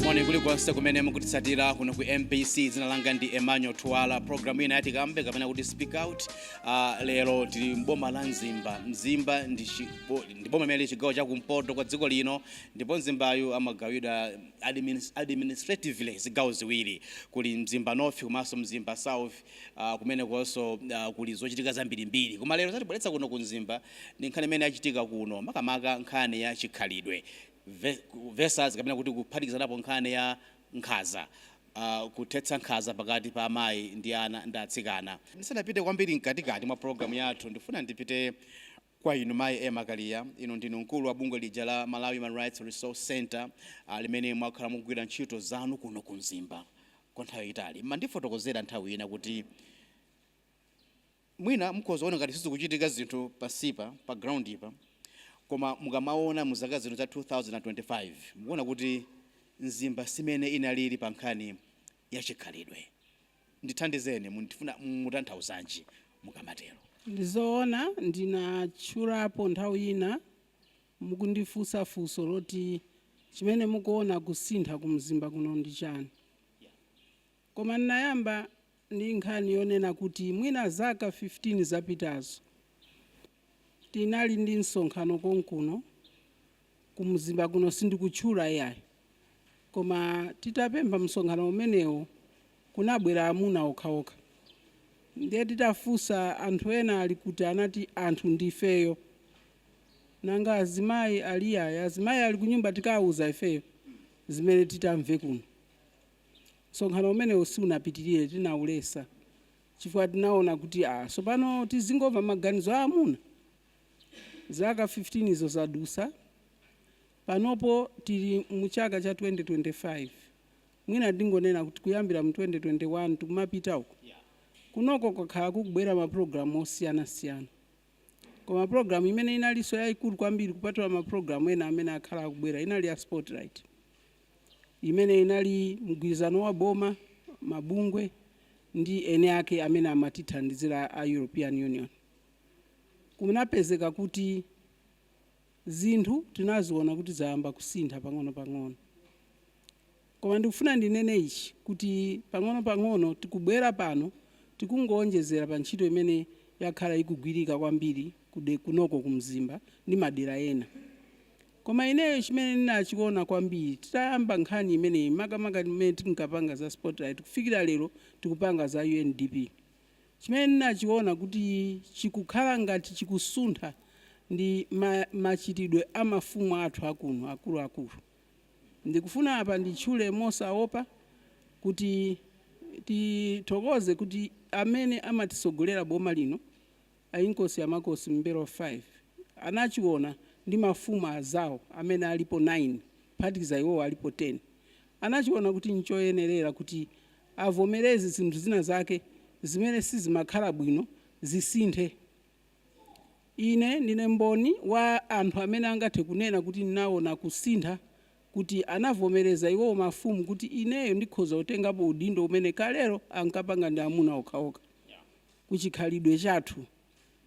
moni kulikonse kumene mukutitsatira kuno ku mbc dzina langa ndi emmanuel twala programu ija ya Tikambe kapena kuti speak out Uh, lero tili mboma la mzimba mzimba ndi chi- bo- ndi boma limene lili chigawo cha kumpoto kwa dziko lino ndipo mzimbayu amagawidwa adminis- administratively zigawo ziwiri kuli mzimba north komanso mzimba south uh, kumenekonso uh, kuli zochitika zambirimbiri koma lero zatibweretsa kuno ku mzimba ndi nkhani imene yachitika kuno makamaka nkhani ya chikhalidwe Ve- versus kapena kuti kuphatikizanapo nkhani ya nkhaza. Kuthetsa nkhaza pakati pa amayi ndi ana ndi atsikana. Ndisanapite kwambiri mkatikati mwa pulogalamu yathu, ndifuna ndipite kwa inu Mayi Emma Kaliya. Inu ndinu mkulu wa bungwe lija la Malawi Human Rights Resource Centre limene mwakhala mukugwira ntchito zanu kuno ku Mzimba kwa nthawi yayitali. Mmandifotokozera nthawi ina kuti. Mwina mukhoza kuona ngati sizikuchitika zinthu pansipa, pa ground pa, koma mukamaona mu zaka zino za 2025, mukuona kuti Mzimba simene inalili pa nkhani ya chikhalidwe. Ndithandizeni, mukufuna mutanthauzanji mukamatero? Ndi zoona ndinatchulapo nthawi ina mukundifunsa funso loti chimene mukuona kusintha ku Mzimba kuno ndi chani. Koma n'nayamba ndi nkhani yonena kuti mwina zaka 15 zapitazo, tinali ndi msonkhano konkuno ku Mzimba kuno, sindikutchula iyayi, koma titapempha msonkhano umenewo kunabwera amuna okhaokha. Ndiye titafunsa anthu ena ali kuti anati anthu ndi ifeyo. Nanga azimayi ali? Iyayi azimayi ali kunyumba tikawauza ifeyo zimene titamve kuno. Msonkhano umenewo siunapitirire, tinaulesa chifukwa tinaona kuti ah, tsopano tizingomva maganizo a amuna? Zaka 15 izo zadusa. Panopo tili mu chaka cha 2025. Mwina ndingonena kuti kuyambira mu 2021 tikumapita uko, kunoko kwakhala kukubwera maprogramu osiyanasiyana. Koma programu imene inalinso yaikulu kwambiri kupatula maprogramu ena amene akhala akubwera inali ya Spotlight, imene inali mgwirizano wa boma, mabungwe ndi eni ake amene amatithandizira a European Union. Kunapezeka kuti zinthu tinaziona kuti zayamba kusintha pang'onopang'ono. Koma ndikufuna ndinene ichi, kuti pang'onopang'ono tikubwera pano, tikungowonjezera pa ntchito imene yakhala ikugwirika kwambiri kude, kunoko ku Mzimba ndi madera ena. Koma ineyo chimene ndinachiona kwambiri, titayamba nkhani imeneyi, makamaka pamene tinkapanga za Spotlight kufikira lero tikupanga za UNDP, chimene ndinachiona kuti chikukhala ngati chikusuntha ndi ma, machitidwe a mafumu athu a kuno, akuluakulu. Ndikufuna apa nditchule mosaopa kuti tithokoze kuti amene amatisogolera boma lino a Inkosi a Makosi M'mbelwa 5 anachiona ndi mafumu azawo amene alipo 9 kuphatikiza iwowo alipo 10 anachiona kuti nchoyenerera kuti avomereze zinthu zina zake zimene sizimakhala bwino zisinthe Ine ndine mboni wa anthu amene angathe kunena kuti ndinawona kusintha, kuti anavomereza iwowo mafumu kuti ineyo ndikhoza kutengapo udindo umene kalelo ankapanga ndi amuna okhaokha. Ku chikhalidwe chathu.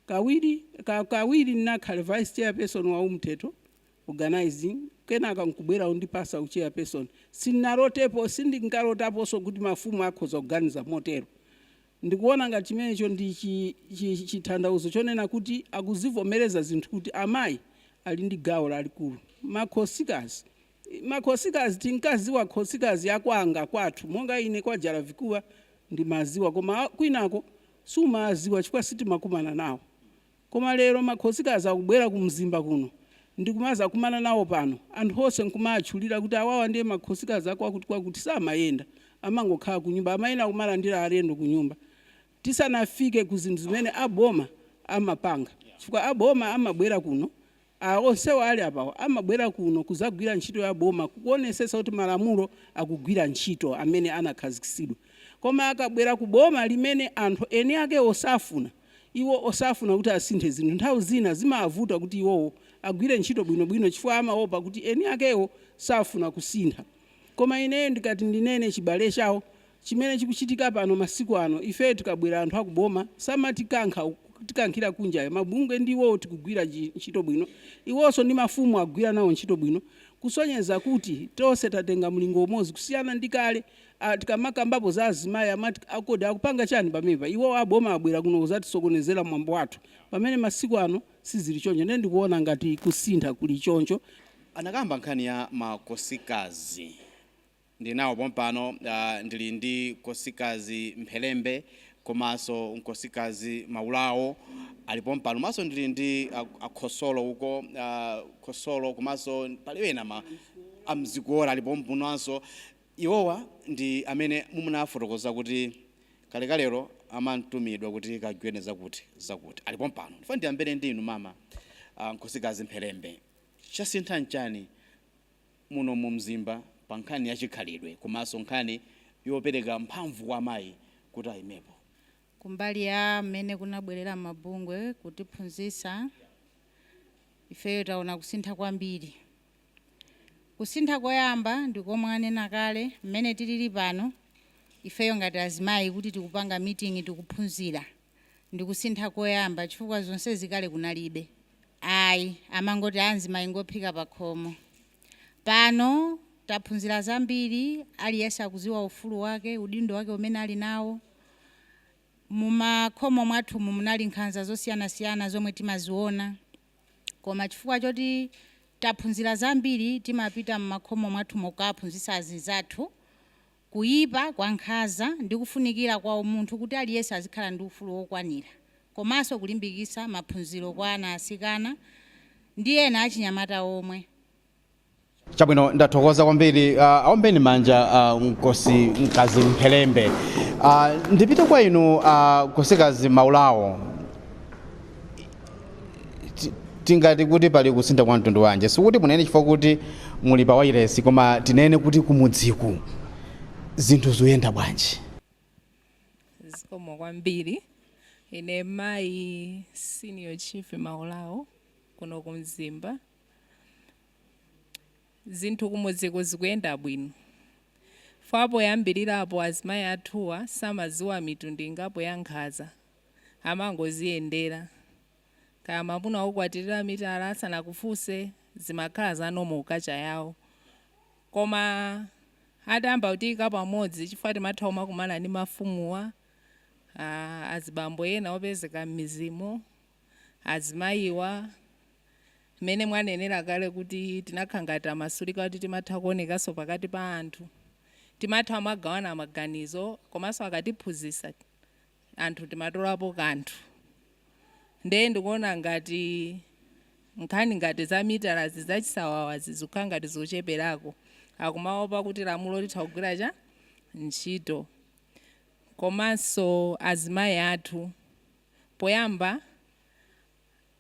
Kawiri, ka, kawiri ndinakhala vice chairperson wa Umthetho Organizing kenaka nkubwera kundipasa u chairperson. Sindinalotepo, sindinkalotaponso kuti mafumu akhoza kuganiza motero. Ndikuona ngati chimenecho ndi chi, chi, chithandauzo chonena kuti akuzivomereza zinthu kuti amayi ali ndi gawo lalikulu. Makhosikazi, i, makhosikazi tinkaziwa khosikazi ya kwanga, kwathu, monga ine kwa Jalavikuwa ndimaziwa koma kwinako sumawaziwa chifukwa sitimakumana nawo. Koma lero ma khosikazi akubwera ku Mzimba kuno ndikumazakumana nawo pano, anthu onse nkumaatchulira kuti awawa ndiye ma khosikazi a kwakuti kwakuti samayenda amangokhala kunyumba amayenera kumalandira alendo kunyumba tisanafike ku zinthu zimene a boma amapanga chifukwa a boma amabwera kuno A, onsewo ali apawo amabwera kuno kudzagwira ntchito ya boma kukuonesetsa kuti malamulo akugwira ntchito amene anakhazikitsidwa. Koma akabwera ku boma limene anthu eni akewo safuna, iwo osafuna kuti asinthe zinthu, nthawi zina zimawavuta kuti iwowo agwire ntchito bwinobwino chifukwa amaopa kuti eni akewo safuna kusintha. Koma ineyo ndikati ndinene chibale chawo chimene chikuchitika pano masiku ano ifeyo tikabwera anthu aku boma samatikankha kutikankhira kunja mabungwe ndi iwowo tikugwira ntchito bwino iwonso ndi mafumu akugwira nawo ntchito bwino kusonyeza kuti tonse tatenga mlingo umodzi kusiyana ndi kale tikamakambapo za azimai amati kodi akupanga chani pamenepa iwowo aboma abwera kuno kuzatisokonezera mwambo wathu pamene masiku ano sizili choncho. Ine ndikuona ngati kusintha kuli choncho. Anakamba nkhani ya makosikazi. Ndili nawo pompano ndili ndi nkosikazi mpherembe komanso nkosikazi maulawo ali pompano komanso ndili ndi akhosolo uko khosolo komanso pali ena ma amzikole ali pompanonso. Iwowa ndi amene munawafotokoza kuti kalekalelo amatumidwa kuti kagwireni zakuti zakuti. Ali pompano. Ndifuna ndiyambire ndi inu mama a Nkosikazi Mpherembe. Chasintha nchani muno mu Mzimba pa nkhani ya chikhalidwe komanso nkhani yopereka mphamvu kwa amayi kuti ayimepo? Kumbali ya mmene kunabwerera mabungwe kutiphunzitsa, ifeyo taona kusintha kwambiri. Kusintha koyamba ndi komwe anena kale, mmene tilili pano ifeyo ngati azimayi kuti tikupanga meeting tikuphunzira ndi kusintha koyamba chifukwa zonsezi kale kunalibe ayi amangoti azimayi ngophika pakhomo. Pano taphunzira zambiri aliyense akuziwa ufulu wake, udindo wake umene ali nawo. Mumakhomo mwathumu munali nkhanza zosiyanasiyana zomwe timaziona. Koma chifukwa choti taphunzira zambiri, timapita m'makhomo mwathumo kukawaphunzitsa azinzathu kuipa kwa nkhanza ndi kufunikira kwa umunthu kuti aliyense azikhala ndi ufulu wokwanira komanso kulimbikitsa maphunziro kwa ana asikana ndi ena achinyamata omwe. Chabwino, ndathokoza kwambiri. Uh, aombeni manja uh, nkosikazi Mphelembe. Uh, ndipite kwa inu uh, nkosikazi Maulawo, Ti- tingati kuti pali kusintha kwa mtundu wanji sikuti munene chifukwa kuti muli pa wailesi koma tinene kuti kumudziku zinthu zoyenda bwanji zikomo kwambiri ine mayi senior chief maulawo kuno ku mzimba Zinthu kumudziko zikuyenda bwino chifukwa poyambirirapo azimayi athuwa samadziwa mitundu ingapo ya nkhanza amangoziyendera kaya mamuna wakukwatirira mitala asanakufunse zimakhala za normal ku culture yawo koma atayamba kutiyika pamodzi chifukwa timatha kumakumana ndi mafumuwa aa azibambo ena opezeka mmidzimo azimayiwa mmene mwanenera kale kuti tinakhala ngati tamasulika kuti timatha kuonekanso pakati pa anthu timatha kumagawana maganizo komanso akatiphunzitsa anthu timatolapo kanthu ndiye ndikuona ngati nkhani ngati za mitalazi zachisawawazi zikukhala ngati zocheperako akumaopa kuti lamulo litha kugwira ntchito komanso azimayi athu poyamba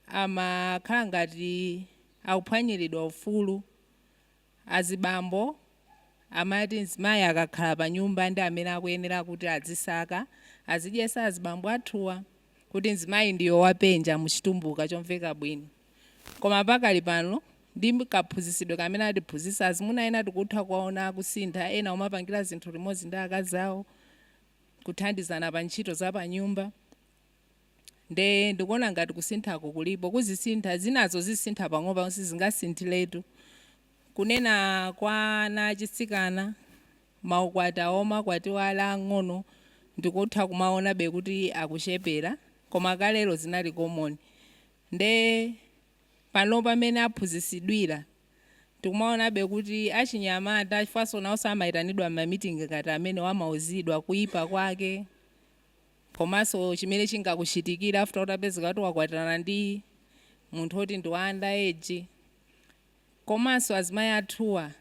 amakhala ngati akuphwanyiridwa ufulu. Azibambo amati mzimayi akakhala panyumba ndi amene akuyenera kuti azisaka, azidyesa azibambo athuwa, kuti mzimayi ndiyo wapenja mu chitumbuka chomveka bwino. Koma pakali pano ndi kaphunzisidwe kamene atiphunzisa, azimuna ena tikutha kuwaona akusintha, ena kumapangira zinthu limodzi ndi akazi awo. kuthandizana pa ntchito za pa nyumba nde ndikuona ngati kusinthako kulipo kuzisintha zinazo zisintha pang'ono pang'ono sizingasinthiletu kunena kwa ana achitsikana maukwati awo omakwatiwa ali ang'ono ndikutha kumaonabe kuti akuchepera koma kalero zinali common nde panopa mene aphunzisidwira tikumaonabe kuti achinyamata, chifukwanso nawonso amaitanidwa m'ma meeting ngati amenewa, amauzidwa kuipa kwake komanso chimene chingakuchitikire after utapezeka kuti wakwatirana ndi munthu woti ndi wa under age. Komanso azimayi athuwa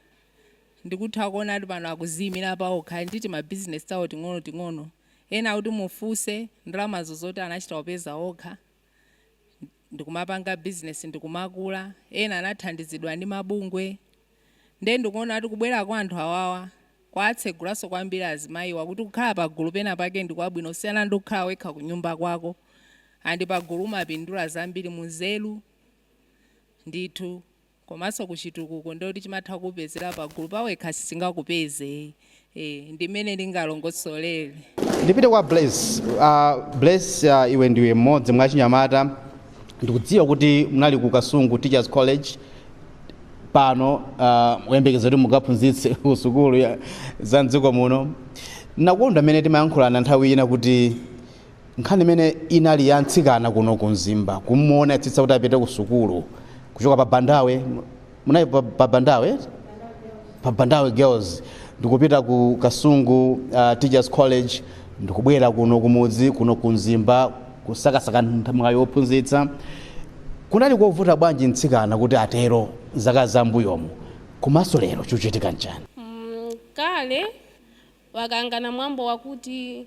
ndikutha kuona kuti pano akuziimira paokha, ali ndi tima business tawo ting'onoting'ono. Ena kuti mufunse, ndalamazo zoti anachita kupeza okha. ndikumapanga business ndikumakula ena anathandizidwa ndi mabungwe nde ndikuona kuti kubwera kwa anthu awawa kwawatsegula maso kwambiri azimayiwa kuti kukhala pagulu pena pake ndikwabwino kusiyana ndi kukhala wekha kunyumba kwako and pagulu umapindula zambiri munzeru ndithu. komanso kuchitukuko ndiyekuti chimatha kukupezera pagulu pawekha sichingakupeze ee ndimene ndingalongosolere. Ndipite kwa Bless. Uh, Bless uh, iwe ndiwe mmodzi mwa achinyamata ndikudziwa kuti munali ku Kasungu Teachers College pano uh, muyembekeza kuti mukaphunzitse ku sukulu ya- za mdziko muno. Nakonda mmene timayankhulana nthawi ina kuti Nkhani imene inali ya mtsikana kuno ku Mzimba kumuona etetsa kuti apite ku sukulu kuchoka pa Bandawe munali pa, pa Bandawe pa Bandawe Girls ndikupita ku Kasungu uh, Teachers College ndikubwera kuno kumudzi kuno ku Mzimba kusakasaka mwayi wophunzitsa kunali kovuta bwanji mtsikana kuti atero zaka za mbuyomu komanso lero chikuchitika nchani? Mm, kale wakangaŵa mwambo wakuti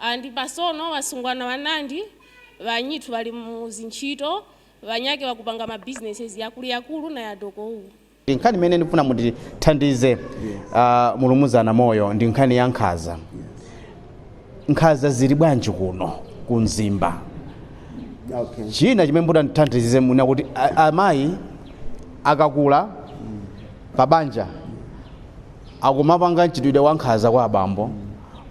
And pasono wasungwana wanandi wanyithu wali mu zinchito, wanyake wakupanga ma businesses yakulu yakulu na ya doko uwu. Ndi nkhani imene ndikufuna mundithandize a Mulumuzana Moyo ndi nkhani ya nkhaza. Nkhaza zili bwanji kuno ku Mzimba? Okay. China chimene mutandithandize mwina kuti a- amayi akakhala pa banja akumapanga mchitidwe wa nkhaza kwa abambo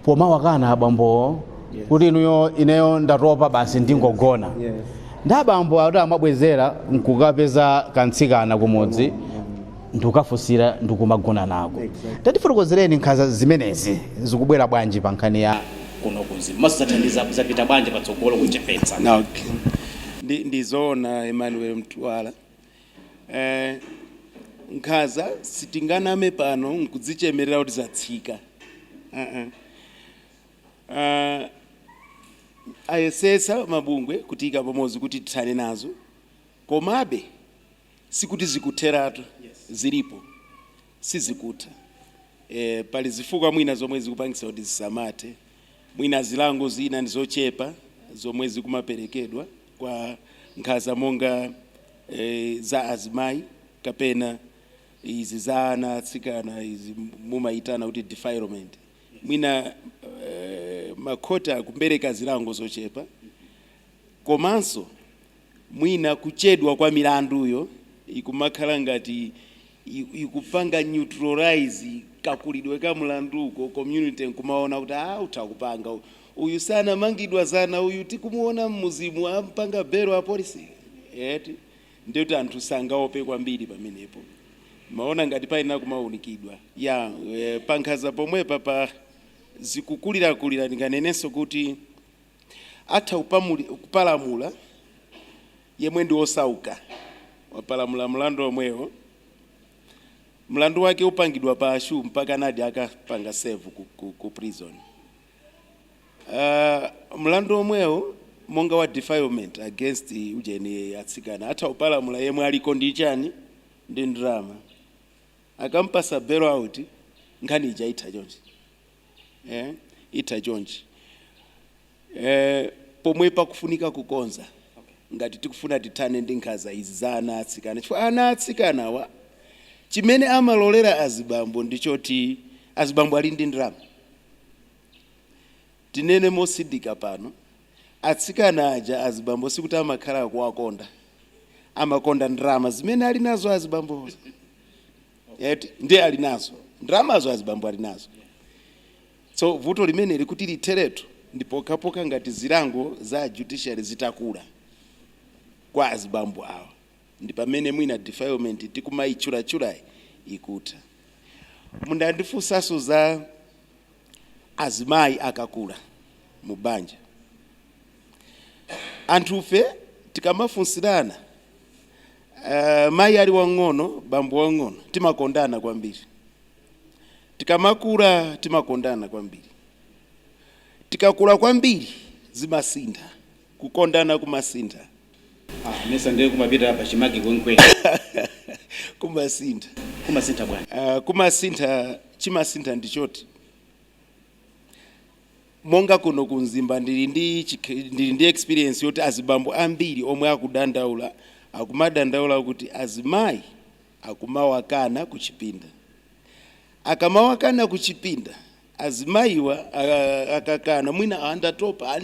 pomawakana abambowo Yes. kuti inuyo ineyo ndatopa basi ndingogona Yes. ndi abambo ati amabwezera nkukapeza kantsikana kumudzi ndikukafunsira ndikumagona nako Exactly. tatifotokozereni nkhaza zimenezi zikubwera bwanji pa nkhani ya kuno ku Mzimba masathandiza zapita bwanji patsogolo kuchepetsa Okay. Ndi, ndizoona Emmanuel Mtwala Eh, nkhaza sitinganame pano nkudzichemerera kuti zatsika uh -uh. Uh, ayesesa mabungwe kutiika pamozi kuti tithane nazo komabe sikuti zikutheratu zilipo sizikutha e, pali zifukwa mwina zomwe zikupangisa kuti zisamathe mwina zilango zina ndizochepa zomwe zikumaperekedwa kwa nkhaza monga za azimayi kapena izi za ana atsikana izi mumayitana kuti defilement mwina makhoti akupereka zilango zochepa komanso mwina kuchedwa kwa milanduyo ikumakhala ngati ikupanga neutralize kakulidwe ka mlanduko, community nkumaona kuti aah utakupanga uyu, uyu sanamangidwa zana uyu tikumuona mmudzimu ampanga belo apolice eti, ndiye kuti anthu sangaope kwambiri pamenepo. Ndimaona ngati payenera kumaunikidwa. Yeah, pankhaza pomwepa pa zikukulirakulira ndinganenenso kuti atha kupalamula. yemwe ndi wosauka wapalamula mlandu omwewo. Mlandu wake upangidwa pashu mpakanadi akapanga serve ku, ku, ku prison. Uh, mlandu omwewo monga wa defilement against ujeni atsikana atha kupalamula yemwe aliko ndi chani ndi ndalama akampasa bail out nkhani ija itha chonchi eh, itha chonchi eh, pomwe pakufunika kukonza ngati tikufuna tithane ndi nkhaza izi za ana atsikana chifukwa ana atsikanawa chimene amalolera azibambo ndi choti azibambo ali ndi ndalama tinene mosindika pano atsikana aja azibambo sikuti amakhala akuwakonda amakonda ndalama zimene ali nazo azibambozo eti ndiye ali nazo ndalamazo azibambo ali nazo so vuto limene lili kuti litheretu ndi pokhapokha ngati zilango za judiciary zitakula kwa azibambo awa ndi pamene mwina defilement tikumayitchulatchulayi ikutha mundandifunsanso za Azimayi akakula mu banja, anthufe tikamafunsirana, mayi ali wang'ono, bambo wang'ono, timakondana kwambiri. Tikamakula, timakondana kwambiri. Tikakula kwambiri, zimasintha. Kukondana kumasintha ah mesa ndiye kumapita pachimake kwenikweni. kumasintha Kumasintha bwanji? ah kumasintha chimasintha ndi choti monga kuno ku Mzimba ndili ndi chikh ndili ndi experience yoti azibambo ambiri omwe akudandaula akumadandaula kuti azimayi akumawakana kuchipinda akamawakana kuchipinda Azimayiwa akakana mwina aa ndatopa aa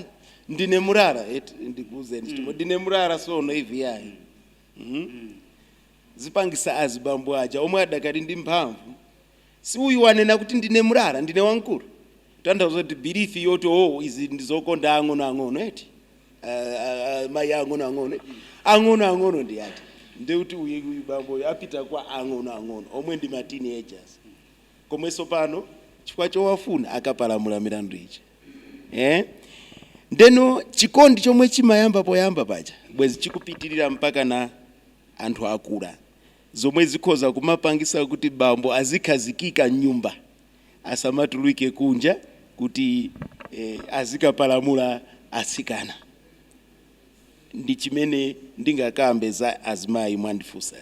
ndine mulara eti ndikuuzeni mm. chifukwa ndine mulara sono ivi yayi mm. mm. mm. zipangisa azibambo aja omwe adakali ndi mphamvu si uyu wanena kuti ndine mulara ndine wamkulu tanthauza kuti belief yoti o oh, izi ndizokonda ang'ono ang'ono eti uh, uh, mayi ang'ono ang'ono ang'ono ang'ono ndi ati ndiye kuti uyu bamboyo apita kwa ang'ono ang'ono omwe ndi ma teenagers komweso pano chifukwa chowafuna akapalamula milandu ija eh? ndeno chikondi chomwe chimayamba poyamba paja bwezi chikupitirira mpaka na anthu akula zomwe zikhoza kumapangisa kuti bambo azikhazikika mnyumba asamatuluke kunja kuti eh, azikapalamula atsikana ndi chimene ndingakambe za azimayi mwandifunsa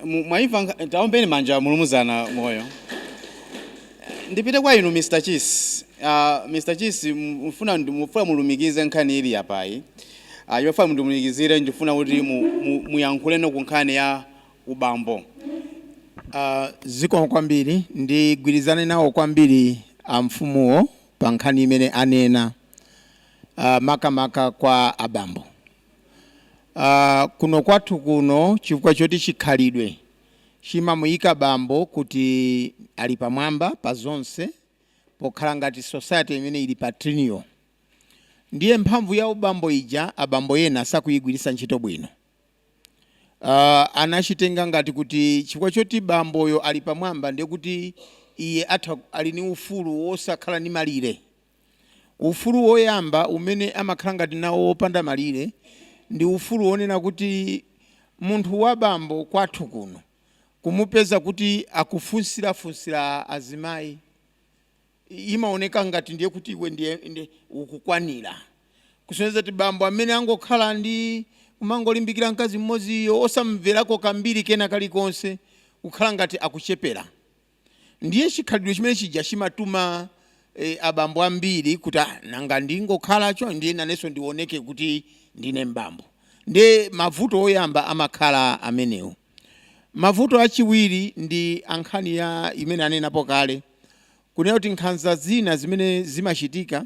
mwaimva mwa, mwa, taombani manja mulimuzana moyo ndipite kwa inu Mr. Chisi uh, ah, Mr. Chisi mfuna mfuna mulumikize nkhani ili yapayi uh, ah, yofuna mundimulumikizire ndifuna kuti muyankhulepo mu, mu ku nkhani ya ubambo uh, zikomo kwambiri ndigwirizane nawo kwambiri amfumuwo pa nkhani imene anena uh, makamaka kwa abambo Uh, kuno kwathu kuno chifukwa choti chikhalidwe chimamuyika bambo kuti ali pamwamba pa zonse pokhala ngati society imene ili patrilineal ndiye mphamvu ya ubambo ija abambo yena sakuyigwiritsa ntchito bwino uh, amachitenga ngati kuti chifukwa choti bamboyo ali pamwamba ndiye kuti iye atha ali ni ufulu wosakhala ni malire Ufulu woyamba umene amakhala ngati nawo wopanda malire ndi ufulu wonena kuti munthu wa bambo kwathu kuno kumupeza kuti akufunsirafunsira azimayi imaoneka ngati ndiye kuti iwe ndiye ukukwanira. Kusonyeza kuti bambo amene angokhala ndi kumangolimbikira mkazi mmodziyo osamumverako kambiri kena kalikonse kukhala ngati akuchepera. Ndiye chikhalidwe chimene chija chimatuma e, abambo ambiri kuti ah, nanga ndingokhala cho ndiye nanenso ndioneke kuti ndine mbambo. Ndiye mavuto oyamba amakhala amenewo. Mavuto achiwiri ndi ankhani ya imene anenapo kale kunena kuti nkhanza zina zimene zimachitika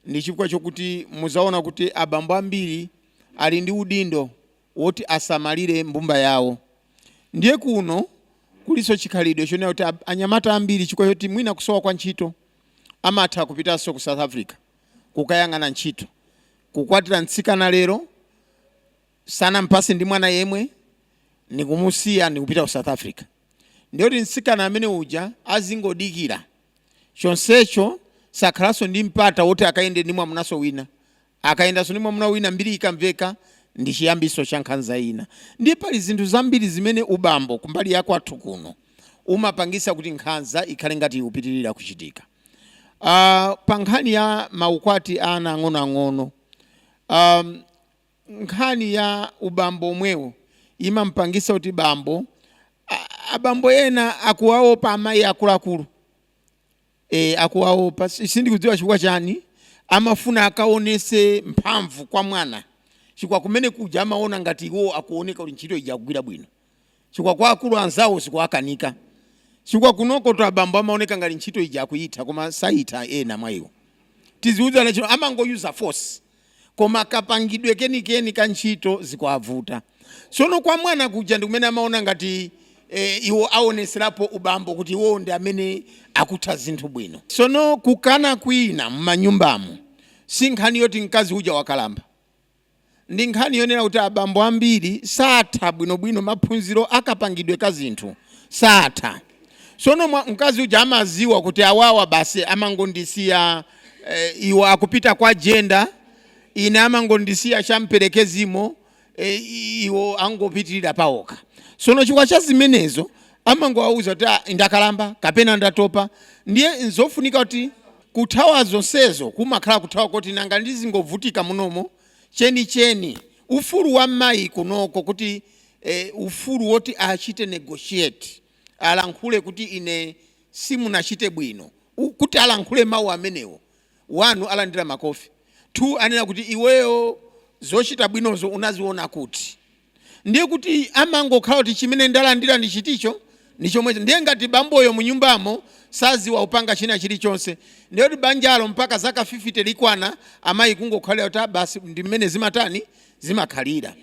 ndi chifukwa chokuti muzaona kuti abambo ambiri ali ndi udindo woti asamalire mbumba yawo. Ndiye kuno kulinso chikhalidwe chonena kuti anyamata ambiri chifukwa choti mwina kusowa kwa ntchito amatha kupitanso ku South Africa kukayang'ana ntchito. Kukwatira mtsikana lero sanampase ndi mwana yemwe nikumusiya nikupita ku South Africa, ndiye kuti mtsikana amene uja azingodikira chonsecho sakhalanso ndi mpata woti akayende ndi mwamunanso wina, Akayendanso ndi mwamuna wina mbiri ikamveka, ndi chiyambinso cha nkhanza ina. Ndiye pali zinthu zambiri zimene ubambo kumbali ya kwathu kuno umapangitsa kuti nkhanza ikhale ngati ikupitirira kuchitika. Aaa pa nkhani ya ma ukwati a ana ang'onoang'ono, aaa nkhani ya ubambo omwewo imamupangitsa kuti bambo, a abambo ena akuwaopa amayi akuluakulu. e, akuwaopa sindikudziwa chifukwa chani amafuna akaonese mphamvu kwa mwana chikwa kumene kuja amaona ngati iwo akuoneka kuti ntchito ija akugwira bwino chikwa kwa akulu anzawo zikuwakanika chikwa kunoko to abambo amaoneka ngati ntchito ija akuitha koma saitha ena mwa iwo tiziuza Nachino amangoyuza force koma kapangidwe kenikeni ka ntchito zikuavuta tsono kwa mwana kuja ndikumene amaona ngati e, iwo aoneserapo ubambo kuti iwowo ndi amene akutha zinthu bwino tsono kukana kwina m'manyumbamo si nkhani yoti mkazi uja wakalamba ndi nkhani yonena kuti abambo ambiri satha bwinobwino maphunziro akapangidwe ka zinthu satha tsono mwa- mkazi uja amaziwa kuti awawa basi amangondisiya eh, iwo akupita kwa jenda ine amangondisiya champerekezimo eh, iwo angopitirira paokha sono chikwa cha zimenezo amangowauza kuti "Ah, ndakalamba kapena ndatopa ndiye nzofunika kuti kuthawa zonsezo kumakhala kuthawa koti nanga ndizingovutika munomo chenicheni ufulu wa mayi kunoko kuti eh, ufulu woti achite negotiate alankhule kuti ine simunachite bwino u kuti alankhule mau amenewo 1 alandira makofi 2 anena kuti iweyo zochita bwinozo unaziona kuti? ndiye kuti amangokhala kuti chimene ndalandira ndi chiticho ndi chomwecho ndiye ngati bamboyo munyumbamo saziwa kupanga china chilichonse ndiye kuti banjalo mpaka zaka 50 likwana amayi kungokhalira kuti "Ah, basi ndi mmene zimatani zimakhalira.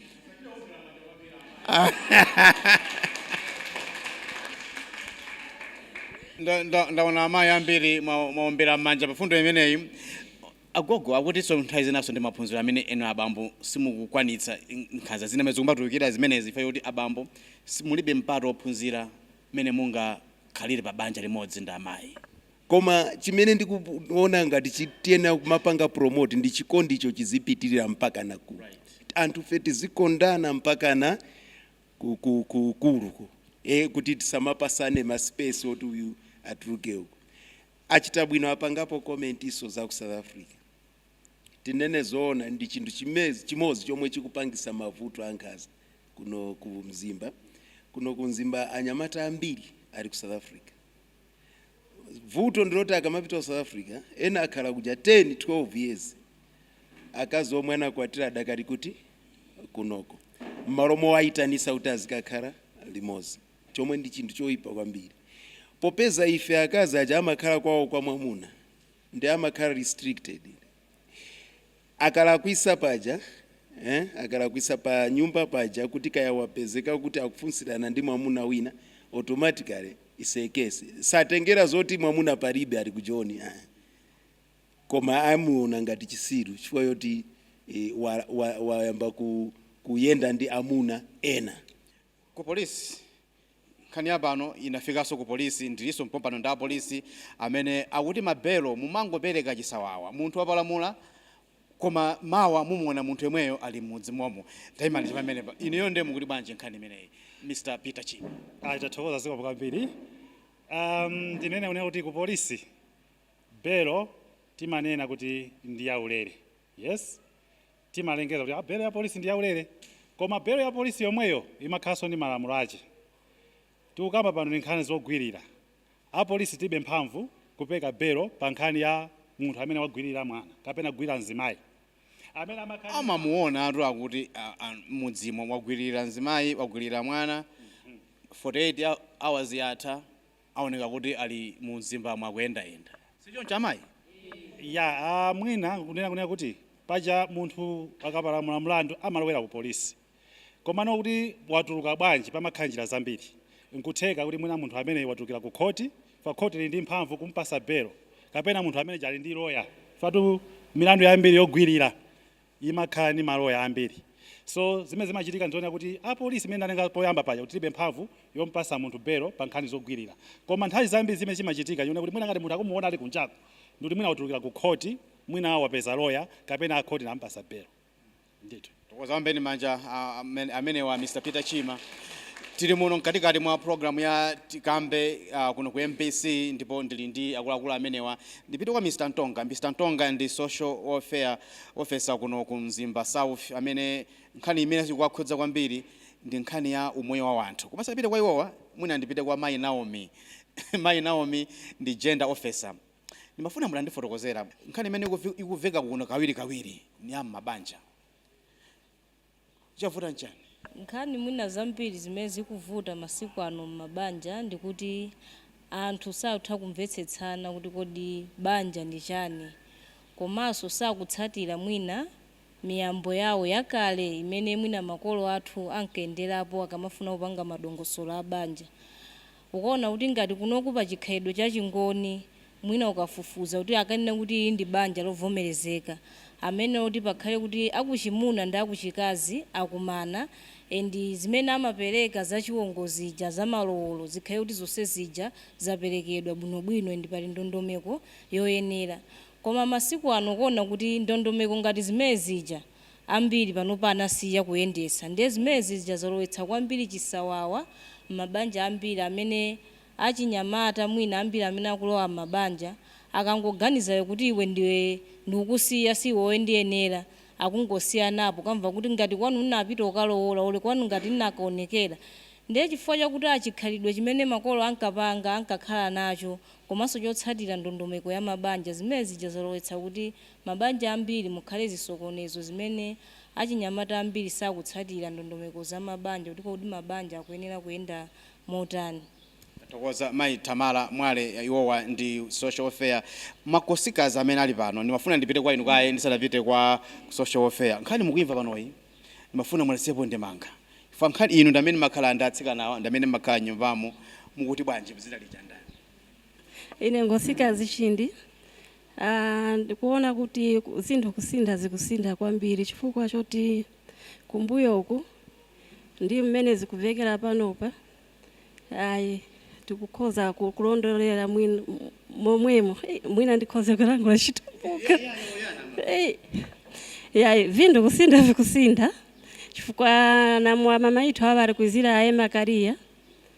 Ndaona amayi ambiri mwaombera m'manja pa fundo imeneyi agogo akutinso nthawi zinaso ndi maphunziro amene enu abambo simukukwanitsa nkhanza zina amene zikumatulukira zimenezi ife kuti abambo si- mulibe mpata wophunzira mmene mungakhalire pa banja limodzi ndi amayi Koma chimene ndikuona ngati chi, tiyenera kumapanga promote ndi chikondicho chizipitirira mpakana ku, anthufe tizikondana mpakana ku, ku, ku ukulu, kuti tisamapasane ma space oti uyu atuluke uku. Achita bwino apangapo commentinso za ku South Africa. Tinene zoona ndi chinthu chimozi chomwe chikupangisa mavuto a nkhanza kuno ku Mzimba. Kuno ku Mzimba anyamata ambiri ali ku South Africa. vuto ndiloti akamapita ku south africa ena akhala kuja 10 12 years akazi omwe anakwatira adakali kuti kunoko mmalo mowayitanisa kuti azikakhala limozi chomwe ndi chinthu choyipa kwambiri popeza ife akazi aja amakhala kwawo kwa mwamuna ndi amakhala restricted Akalakwisa paja akalakwisa pa nyumba paja kuti kaya wapezeka kuti akufunsirana ndi mwamuna wina automatically is a case satengera zoti mwamuna palibe ali ku joni koma amuona ngati chisiru chifukwa yoti wayamba kuyenda ndi amuna ena. Ku polisi, Nkhani ya pano inafikanso ku polisi, ndilinso mpompano ndi a polisi amene akuti ma belo mumangopereka chisawawa. Munthu wapalamula koma mawa mumuona munthu yemweyo ali mmudzi momo. Taimani cha pamenepa. Inuyo nde mukuti bwanji nkhani imeneyi Mr Peter Chinga? Tathokoza zikomo kwambiri. Ahm ndinene kunena kuti ku polisi belo timanena kuti ndi yaulere yes. Timalengeza kuti a belo ya polisi ndi yaulere, koma belo ya polisi yomweyo imakhalanso ndi malamulo ache. Tikukamba pano ndi nkhani zogwirira. A polisi tibe mphamvu kupeka belo pa nkhani ya munthu amene wagwirira mwana kapena kugwirira mzimai amene ama. Amamuonatu akuti m'mudzimo wagwirira mzimai, wagwirira mwana, 48 hours yatha, Aoneka kuti ali mu mzimbamu akuyendayenda. Si choncho amayi? Ya, mwina kunena kuti paja munthu akapalamula mlandu amalowera ku polisi. Komano kuti watuluka bwanji pamakhala njira zambiri. N'kutheka kuti mwina munthu amene watulukira ku khoti chifukwa khoti lili ndi mphamvu kumpasa belo. Kapena munthu ameneja ali ndi loya chifukwa tu milandu yambiri yogwirira imakhala ndi maloya ambiri so zimene zimachitika ndizonena kuti a police mmene ndanena poyamba paja kuti tilibe mphamvu yompasa munthu belo pa nkhani zogwilira koma nthawi zambiri chimene chimachitika nchonena kuti mwina ngati munthu akumuona ali kunjaku ndikuti mwina watulukira ku khoti mwina wapeza loya kapena a khoti anamupasa belo ndithu. Tithokoze aombeni manja amenewa Mr Peter Chima tili muno mkatikati mwa program ya tikambe kuno ku mbc ndipo ndili ndi akuluakulu amenewa ndipite kwa Mr Ntonga Mr Ntonga ndi social welfare Ofesa kuno ku Mzimba South amene nkhani imene ikuwakhudza kwambiri ndi nkhani ya umoyo wa wanthu. Koma ndisanapite kwa iwowa mwina ndipite kwa mayi Naomi. Mayi Naomi ndi Gender Officer. Ndimafuna mutandifotokozera nkhani imene ikuveka kuno kawirikawiri ndi ya m'mabanja. chavuta nchani? Nkhani mwina zambiri zimene zikuvuta masiku ano mmabanja ndikuti anthu sakutha kumvetsetsana kuti kodi banja ndi chani komanso sakutsatira mwina miyambo yawo yakale imene mwina makolo athu ankayenderapo akamafuna kupanga madongosolo a banja Ukaona kuti ngati kunoku pa chikhalidwe cha Chingoni mwina ukafufuza kuti akanena kuti ili ndi banja lovomerezeka, amayenera kuti pakhale kuti akuchimuna ndi akuchikazi akumana and zimene amapereka za chiwongo zija, za malowolo zikhale kuti zonse zija zaperekedwa bwinobwino and pali ndondomeko yoyenera. Koma masiku ano ukuona kuti ndondomeko ngati zimene zija Ambiri panopa anasiya kuyendetsa ndiye zimenezi zija zalowetsa kwambiri chisawawa m'mabanja ambiri amene achinyamata mwina ambiri amene akulowa m'mabanja akangoganiza iwo kuti iwe ndiye ndikukusiya si iwe wondiyenera akungosiyanapo kaya kuti ngati kwanu nnapita kukalowola or kwanu ngati nnakaonekera ndiye chifukwa chakuti a chikhalidwe chimene makolo ankapanga ankakhala nacho komanso chotsatira ndondomeko ya mabanja zimene zija zalowetsa kuti mabanja ambiri mukhale zisokonezo zimene achinyamata ambiri sakutsatira ndondomeko za mabanja kuti kodi mabanja akuyenera kuyenda motani. Ndathokoza mayi Tamala Mwale iwowa ndi social welfare makosikazi amene ali pano ndimafuna ndipite kwa inu kaye ndisanapite kwa social welfare nkhani mukuimva panoyi ndimafuna mulasepo ndemanga chifukwa nkhani inu ndi amene makhala ndi atsikanawa ndi amene makhala mnyumbamo mukuti bwanji dzina lija ndani? Ine ngosikazi Chindi Aaa ndikuona kuti zinthu kusintha zikusintha kwambiri chifukwa choti kumbuyoku ndi mmene zikuvekera panopa ayi tikukhoza kulondolera mwina momwemo hey, mwina ndikhoze kulankhula chitumbuka hey. yayi vinthu kusintha vikusintha chifukwa na wamama withu wavali kuizira aye makariya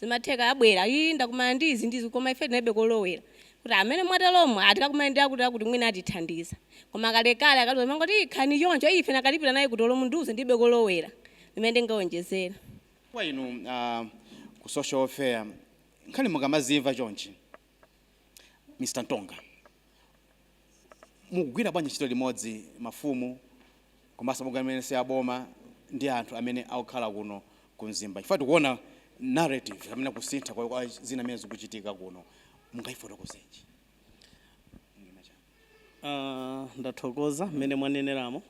Zimatheka abwera, ii ndakumana ndi izi ndi izi koma ife tinalibe kolowera kuti amene mwateromo ah tikakumane ndi akutiakuti mwina atithandiza. Koma kalekale akaliwonse amangoti ii khalani choncho, ii ife nakalipira naye kuti olo mundiuze ndilibe kolowera limene ndingawonjezere. Kwa inu a ku social welfare nkhani mukamazimva chonchi Mr. Ntonga, mukugwira bwanji ntchito limodzi mafumu komanso mabungwe amene si aboma ndi anthu amene akukhala kuno ku Mzimba chifukwa tikuona narrative kapena kusintha kwa kwa zina zimene zikuchitika kuno, mungaifotokoze bwanji? Uh, ndathokoza mmene mwaneneramo.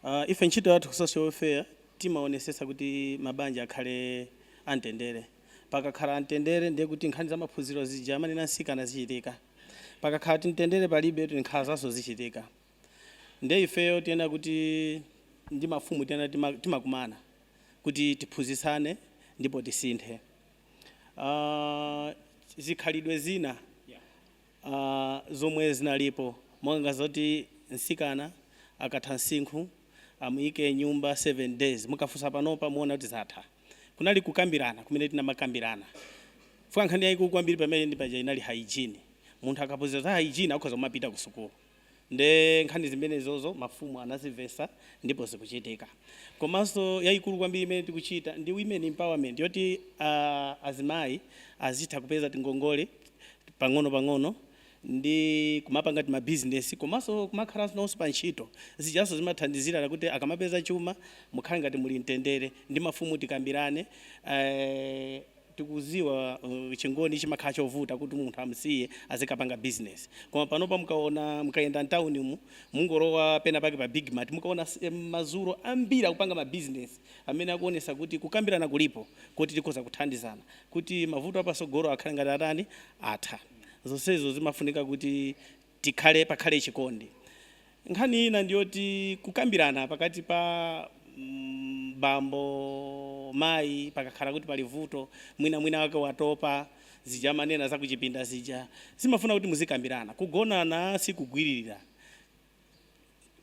Uh, ife ntchito yathu ku social welfare timaonesesa kuti mabanja akhale amtendere. Pakakhala amtendere ndiye kuti nkhani za maphunziro zija amanena mtsikana zichitika. Pakakhala mtendere palibe nkhanzanso zichitika. Ndiye ifeyo tiyenera kuti ndi mafumu tiyenera tima, timakumana kuti tiphunzitsane ndipo tisinthe uh, zikhalidwe zina a Zomwe zinalipo monga zoti mtsikana akatha msinkhu amuike m'nyumba 7 days mukafunsa panopa muona kuti zatha. Kunali kukambirana kumene tinamakambirana chifukwa nkhani yaikulu kwambiri pamene paja inali hygiene. Munthu akaphunzira za hygiene akhoza kumapita kusukulu. Nde nkhani zimenezozo mafumu anazimvesa ndipo zikuchitika. Komanso yayikulu kwambiri imene tikuchita ndi women empowerment yoti azimayi azitha kupeza tingongole pang'ono pang'ono ndi kumapanga tima business komanso kumakhalanso nawonso pa ntchito. Zijanso zimathandizira kuti akamapeza chuma mukhale ngati muli mtendere. Ndi mafumu tikambirane. tikuziwa chingoni chimakhala chovuta kuti munthu amusiye azikapanga business koma panopa mukaona mukayenda mtown umu mungolowa pena pake pa big mart mukaona s- em, mazuro ambiri akupanga ma business amene akuonesa kuti kukambirana kulipo kuti tikhoza kuthandizana kuti mavuto apatsogolo akhale ngati atani atha zonsezo zimafunika kuti Tikhale, pakhale chikondi. Nkhani ina ndi yoti kukambirana pakati pa bambo, mayi pakakhala kuti pali vuto mwina mwina wina wake watopa, zija amanena za kuchipinda zija, zimafuna kuti muzikambirana. Kugonana sikugwiririra.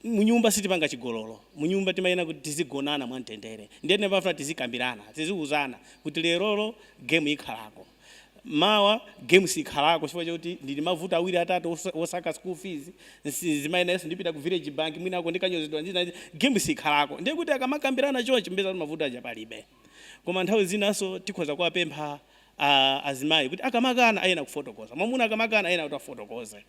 Munyumba sitipanga chigololo. Munyumba timayenera kuti tizigonana mwamtendere. Ndiye timafuna tizikambirana, tiziuzana kuti lerolo game ikhalako, mawa game sikhalako chifukwa choti ndili ndi mavuto awiri atatu osaka school fees, mzimayi nayenso ndipita ku village bank mwinako ndikanyozedwa ndi zina ndi zina, game sikhalako. Ndiye kuti akamakambirana chonchi mupeza kuti mavuto aja palibe. Koma nthawi zinanso tikhoza kuwapempha azimayi kuti akamakana ayenera kufotokoza. Mwamuna akamakana ayenera kuti afotokoze.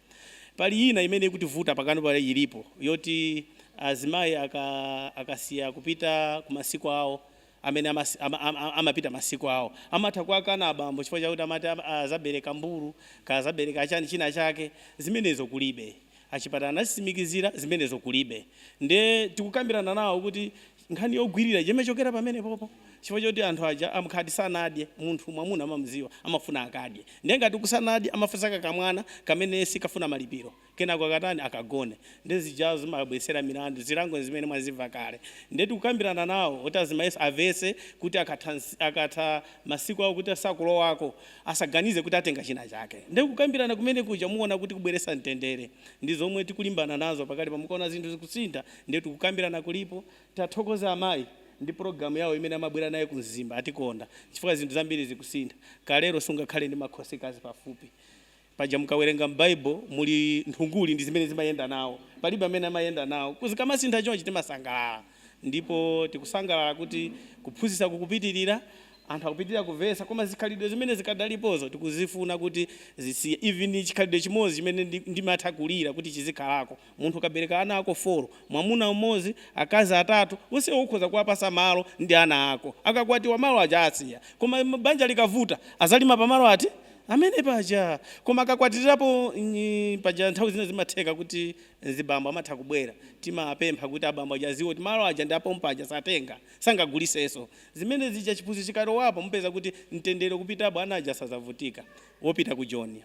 Pali ina imene ikutivuta pakali pano ilipo yoti azimayi aka akasiya kupita kumasiku awo amene amasi, ama, ama, amapita masiku awo amatha kuwakana abambo chifukwa chakuti amati am- azabereka mbuzi kaya azabereka chani china chake zimenezo kulibe. Achipatala anazitsimikizira zimenezo kulibe. Ndiye tikukambirana nawo kuti nkhani yogwirira imachokera pamenepopo chifukwa choti anthu aja amakhala kuti sanadye munthu mwamuna mumamuziwa amafuna akadye ndiye ngati sanadye amafuna kakamwana kamene sikafuna malipiro kenako akatani akagone ndiye zija zimawabwetsera milandu zilango ndi zimene mwazimva kale ndiye tikukambirana nawo kuti azimayinso avetse kuti akatha akatha masiku awo kuti sakulowako asaganize kuti atenga china chake ndiye kukambirana kumene kuja muona kuti kubweretsa mtendere ndi zomwe tikulimbana nazo pakali pano mukaona zinthu zikusintha Ndiye kukambirana kulipo. Tathokoza amayi ndi program yawo imene amabwera naye ku Mzimba. Atikonda chifukwa zinthu zambiri zikusintha. Kalero sungakhale ndi makhosikazi pafupi. Paja mukawerenga m'Baibulo muli nthunguli ndi zimene zimayenda nawo. Palibe amene amayenda nawo. Zikamasintha chonchi timasangalala. Ndipo tikusangalala kuti kuphunzitsa kukupitirira. Anthu akupitirira kumvetsa. Koma zikhalidwe zimene zikadalipozo tikuzifuna kuti zisiye. Even chikhalidwe chimodzi chimene ndimatha kulira kuti chizikhalako. Munthu ukabereka ana ako 4, mwamuna mmodzi, akazi atatu, onsewo ukhoza kuwapatsa malo ndi ana ako. Akakwatiwa malo aja awasiya. Koma banja likavuta, adzalima pa malo ati? Amene paja. Koma akakwatirapo paja nthawi zina zimatheka kuti mzibambo amatha kubwera. Timawapempha kuti abambo aja adziwe kuti malo aja ndi a pompaja satenga, sangagulitsenso. Zimene zija chiphunzitso chikalowapo mupeza kuti mtendere ukupitapo ana aja sadzavutika. wopita ku joni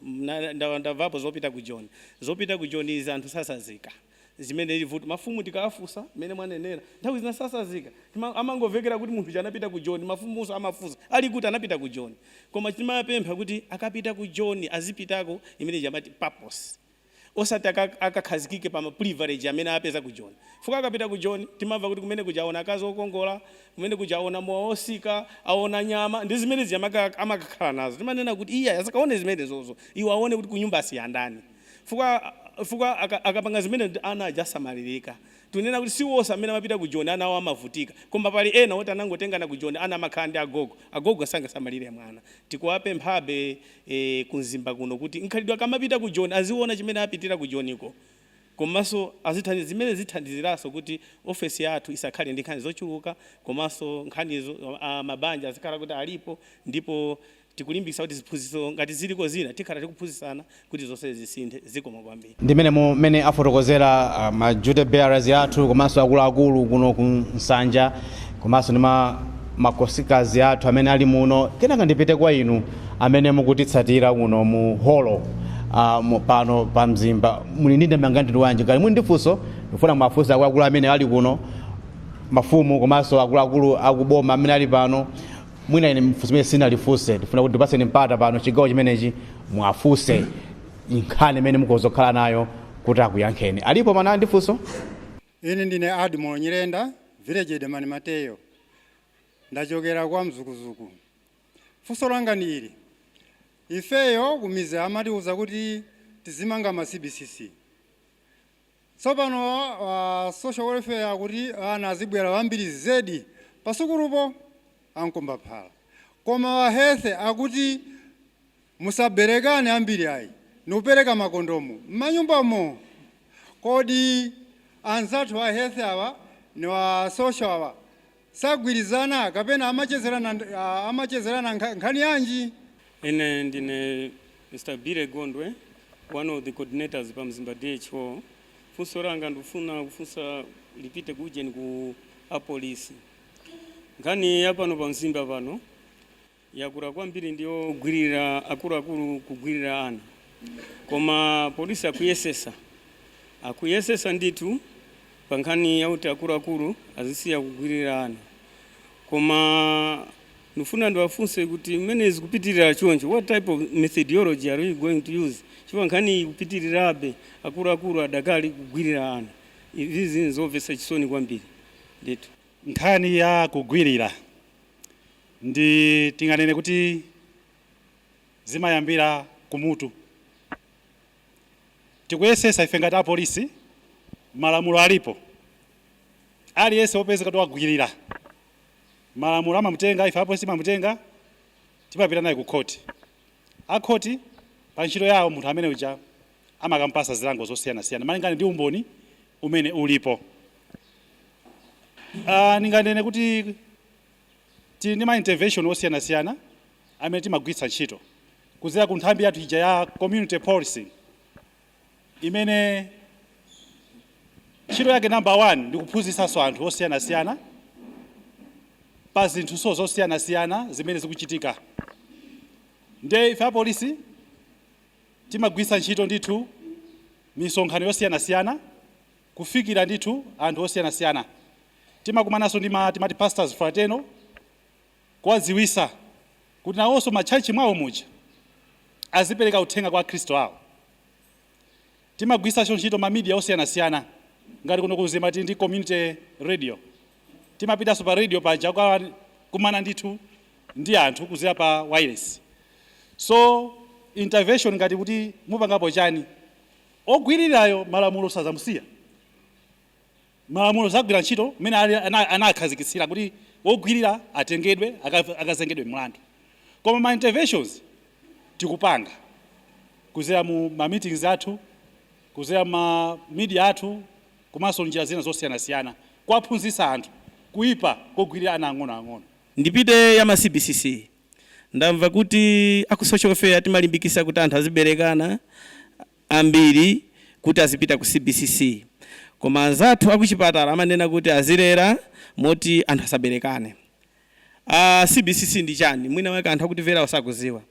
ndamvapo zopita ku joni zopita ku joni izi anthu sasazika zimenezi ndi vuto mafumu tikawafusa mmene mwanenera nthawi zina sasazika Tima- amangovekera kuti munthu uja anapita ku joni mafumunso amafunsa ali kuti anapita ku joni koma timapempha kuti akapita ku joni azipitako imene ija amati purpose osati aka akakhazikike pa privilege amene apeza ku joni chifukwa akapita ku joni timamva kuti kumene kuja aona akazi okongola kumene kuja aona mowa ofika aona nyama ndi zimene zija amaka amakakhala nazo timanena kuti iyayi asakaone zimenezozo iwo aone kuti kunyumba asiya ndani chifukwa chifukwa aka akapanga zimenezi ana aja asamalirika tikunena kuti si onse amene amapita ku joni ana awo amavutika koma pali ena oti anangotengana ku joni ana amakhala ndi agogo agogo sangasamalire mwana tikuwapemphabe ee ku mzimba kuno kuti mchikhalidwe akamapita ku joni aziwona chimene apitira ku joniko komanso azithandiza zimene zithandiziranso kuti ofesi yathu isakhale ndi nkhani zochuluka komanso nkhanizo a mabanja azikhala kuti alipo ndipo tikulimbikisa kuti ziphunziso ngati ziliko zina tikhala tikuphunzisana kuti zonse zisinthe zikomo kwambiri. Ndi mmenemo mmene afotokozera a, ma duty bearers athu komanso akuluakulu kuno kunsanja komanso ndi ma, ma kosikazi athu amene ali muno. Kenaka ndipite kwa inu amene mukutitsatira kuno mu holo a, mu, pano pa Mzimba. Muli ndi ndemanga yamtundu wanji? Ngati muli ndi funso, ndikufuna muwafunse akuluakulu amene ali kuno, mafumu komanso akuluakulu a ku boma amene ali pano. Mwina ine funso limene sindinalifunse, ndifuna kuti ndikupatseni mpata pano chigawo chimenechi muwafunse. nkhani imene mukonza kukhala nayo kuti akuyankheni alipo amene ali ndi funso ine ndine admo nyirenda village headman mateyo ndachokera kwa mzukuzuku funso langa ndi ili ifeyo kumidzi amatiuza kuti tizimanga ma cbcc Tsopano a social welfare akuti ana azibwera ambiri zedi pasukulupo, a nkombaphala. Koma a health akuti musaberekane ambiri ayi ndikupereka makondomu m'manyumbamo. Kodi anzathu a health awa ndi a social awa sagwirizana kapena amachezerana amachezerana nkhani yanji? Ine ndine Mr Billy Gondwe, one of the coordinators pa Mzimba DHO. Funso langa ndikufuna kufunsa lipite ku ujeni ku apolisi. Nkhani ya pano pa Mzimba pano yakula kwambiri ndi yogwirira akuluakulu kugwirira ana koma apolisi akuyesesa akuyesesa ndithu pa nkhani yakuti akuluakulu azisiya kugwirira ana koma ndifuna ndiwafunse kuti mmene zikupitirira choncho what type of methodology are we going to use chifukwa nkhani ikupitirirabe akuluakulu adakali kugwirira ana izi zinthu zomvetsa chisoni kwambiri ndithu nkhani ya kugwirira ndi tinganene kuti zimayambira kumutu. Tikuyesesa ife ngati apolisi, malamulo alipo, aliyense wopezeka kuti wagwirira malamulo amamutenga, ife apolisi timamutenga timapita naye ku khoti. A khoti pa ntchito yawo munthu amene uja amakamupasa zilango zosiyanasiyana malingana ndi umboni umene ulipo. Aaa ndinganene kuti. Tili ndi ma intervention osiyanasiyana amene timagwiritsa ntchito kudzera ku nthambi yathu ija ya community policing imene ntchito yake number one ndi kuphunzitsanso anthu osiyanasiyana pa zinthunso zosiyanasiyana zimene zikuchitika nde ife apolisi timagwiritsa ntchito ndithu misonkhano yosiyanasiyana kufikira ndithu anthu osiyanasiyana Timakumananso ndi timati pastors fraternal kuwaziwisa kuti nawonso ma church mwawo muja azipereka uthenga kwa akhristu awo. Timagwirisanso ntchito ma media osiyanasiyana ngati kuno ku Mzimba tili ndi community radio. Timapitanso pa radio paja kukakumana ndithu ndi anthu kuzera pa wailesi. So intervention ngati kuti mupangapo chani? Ogwirirayo malamulo sazamusiya. malamulo azagwira ntchito mmene anakhazikitsira kuti wogwilira atengedwe akazengedwe mlandu koma ma interventions tikupanga kuzera mu ma meetings athu kuzera mma media athu komanso njira zina zosiyanasiyana kuwaphunzitsa anthu kuipa kogwilira ana ang'ono ang'ono. Ndipite ya ma cbcc ndamva kuti aku social welfare timalimbikisa kuti anthu azibelekana ambiri kuti azipita ku CBCC koma anzathu akuchipatala amanena kuti azilera moti anthu asaberekane. CBCC ndi chani? Mwina mwake anthu akutimverawa sakuziwa.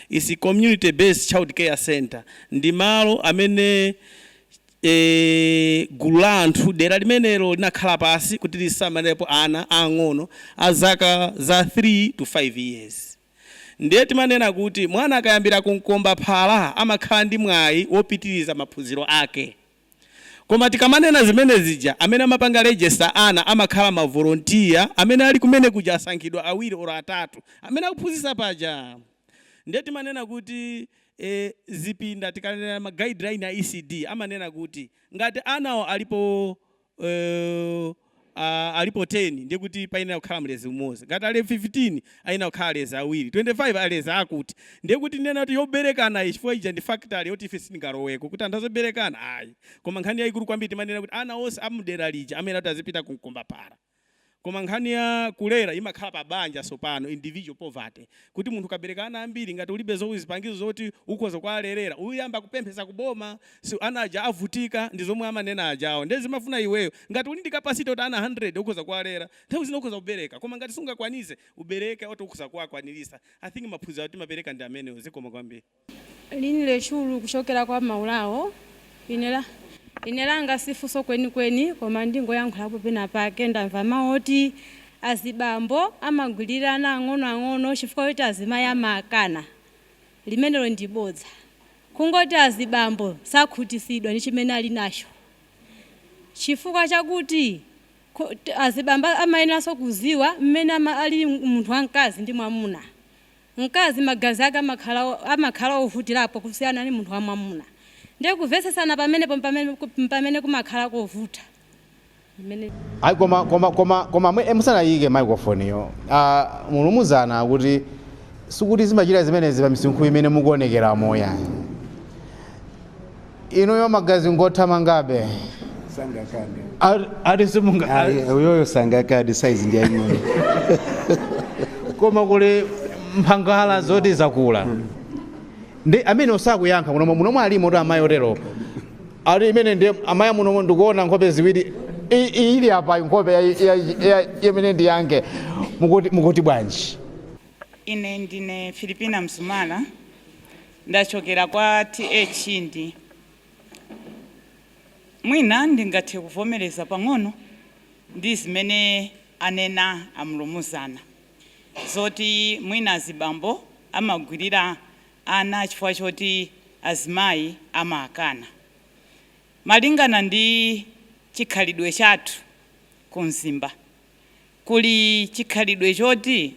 Its community based child care centre. Ndi malo amene eeh gulu la anthu dera limenelo linakhala pansi kuti lisamalepo ana aang'ono a zaka za 3 to 5 years. Ndiye timanena kuti mwana akayambira ku mkombaphala amakhala ndi mwayi wopitiriza maphunziro ake. Koma tikamanena zimene zija, amene amapanga register ana amakhala ma volunteer amene ali kumene kuja asankhidwa awiri or atatu amene akuphunzitsa paja. Ndiye timanena kuti eeh zipinda tikanena ma guideline ya ECD amanena kuti ngati anawo alipo uh, uh, alipo 10 ndiye kuti payenera kukhala mlezi umodzi ngati ali 15 ayenera kukhala alezi awiri 25 alezi akuti ndiye kuti ndinena kuti yoberekana chifukwa ija ndi factory yoti ife sitingaloweko kuti anthu aziberekana ayi koma nkhani yayikulu kwambiri timanena kuti ana onse amudera lija amene kuti azipita kumkombaphala Koma nkhani ya kulera imakhala pa banja sopano individual poverty kuti munthu ukabereka ana ambiri ngati ulibe zo zipangizo zoti ukhoza kuwalerera uyamba kupemphesa ku boma si ana aja avutika ndi zomwe amanena ajawo ndiye zimafuna iweyo ngati uli ndi capacity yoti ana 100 ukhoza kuwalera nthawi zina ukhoza kubereka koma ngati sungakwanitse ubereke oti ukhoza kuwakwanilitsa I think maphunziro timapereka ndi amenewo zikomo kwambiri. Lin lechulu kuchokera kwa maulawo ine langa si funso kwenikweni koma ndingoyankhulapo penapake ndamva mau oti azibambo amagwilira ana ang'onoang'ono chifukwa choti azimayi amakana limenelo ndi bodza kungoti azibambo sakhutisidwa ndi chimene alinacho chifukwa chakuti azibambo amayeneranso kuziwa mmene alili munthu wamkazi ndi mwamuna Mkazi magazi ake amakhala ovutirapo kusiyana ndi munthu wamwamuna ndiye kuvetsetsana pamenepo mpamene kumakhala kovuta. Ayi koma musanayike microphone yo a Mlumuzana kuti sikuti zimachita zimenezi pa misinkhu imene mukuonekeramo yayi. inuyo magazi ngothamangabe sangakade Ati- ati simunga Ayi, uyoyo sangakade saizi ndi aying'ono koma kuli mphangala zoti zakula ndi amene osakuyankha munomo alimo oti amayi otero ali imene ndi amayi munomo ndikuona nkhope ziwiri I- iyi ili apa nkhope ya- ya- ya- imene ndi yange mukuti mukuti bwanji Ine ndine Filipina Msumala Ndachokera kwa TH ndi. Mwina ndingathe kuvomereza pang'ono ndi zimene anena a Mlumuzana zoti mwina azibambo amagwirira ana chifukwa choti azimayi amawakana. Malingana ndi chikhalidwe chathu ku Mzimba, kuli chikhalidwe choti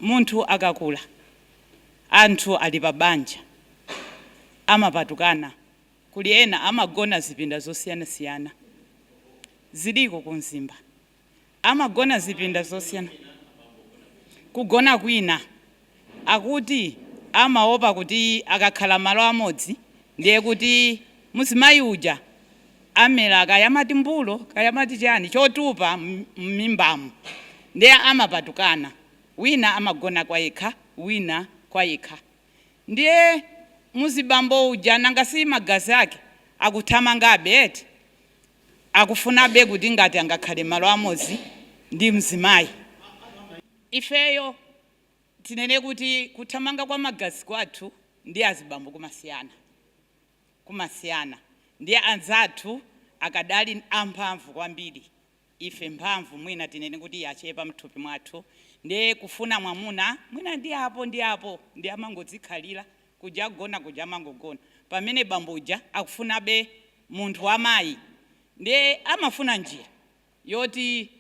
munthu akakula. Anthu ali pa banja amapatukana, kuli ena amagona zipinda zosiyana siyana. Ziliko ku Mzimba. Amagona zipinda zosiyana kugona kwina akuti amaopa kuti akakhala malo amodzi ndiye kuti mzimayi uja amera kaya amati mbulo kaya amati chani chotupa mmimbamu ndiye amapatukana. Wina amagona kwayekha wina kwayekha ndiye muzibambo uja nanga si magazi ake akuthamangabe eti akufunabe kuti ngati angakhale malo amodzi ndi mzimayi ifeyo tinene kuti kuthamanga kwa magazi kwathu ndi azibambo kumasiyana kumasiyana ndiye anzathu akadali amphamvu kwambiri. ife mphamvu mwina tinene kuti yachepa mthupi mwathu ndiye kufuna mwamuna mwina ndi apo ndi apo ndiye amangodzikhalira kuja kugona kuja amangogona pamene bambo uja akufunabe munthu wa mayi ndiye amafuna njira yoti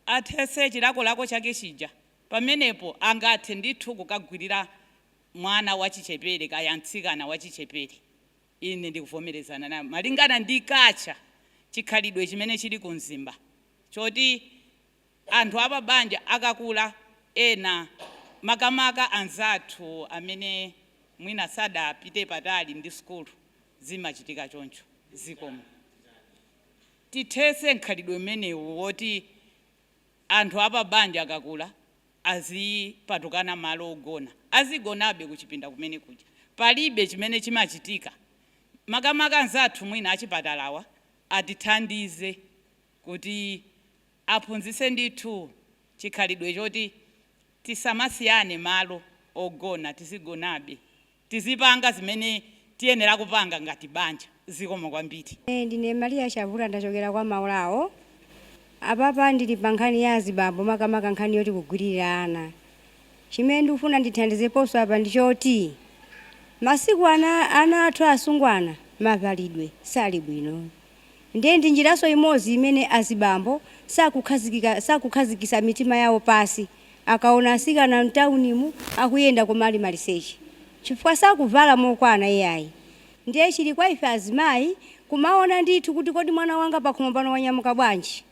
athetse chilakolako chake chija pamenepo angathe ndithu kukagwirira mwana wachichepere kaya mtsikana wachichepere. Ine ndikuvomerezana nawo malingana ndi kaja chikhalidwe chimene chili ku Mzimba choti anthu apabanja akakula ena makamaka anzathu amene mwina sadapite patali ndi sukulu zimachitika choncho. Zikomo. Tithetse mkhalidwe umenewu woti anthu apabanja akakula. azipatukana malo ogona, azigonabe kuchipinda kumene kuja, palibe chimene chimachitika, makamaka anzathu mwina achipatalawa atithandize kuti aphunzitse ndithu chikhalidwe choti tisamasiyane malo ogona, tizigonabe. Tizipanga zimene tiyenera kupanga ngati banja. Zikomo kwambiri. Ine ndine Maria Chavula ndachokera kwa Maulawo. Apapa ndili pa nkhani ya azibambo makamaka nkhani yoti kugwililira ana. Chimene ndikufuna ndithandizeponso apa ndi choti masiku ano ana athu asungwana mavalidwe sali bwino. Ndiye ndi njiranso imodzi imene azibambo sakukhazikisa mitima yawo pasi akaona asikana mtaunimu akuyenda koma ali maliseche chifukwa sakuvala mokwana iyayi ndiye chili kwa ife azimayi kumaona ndithu kuti kodi mwana wanga pakhomo pano wanyamuka bwanji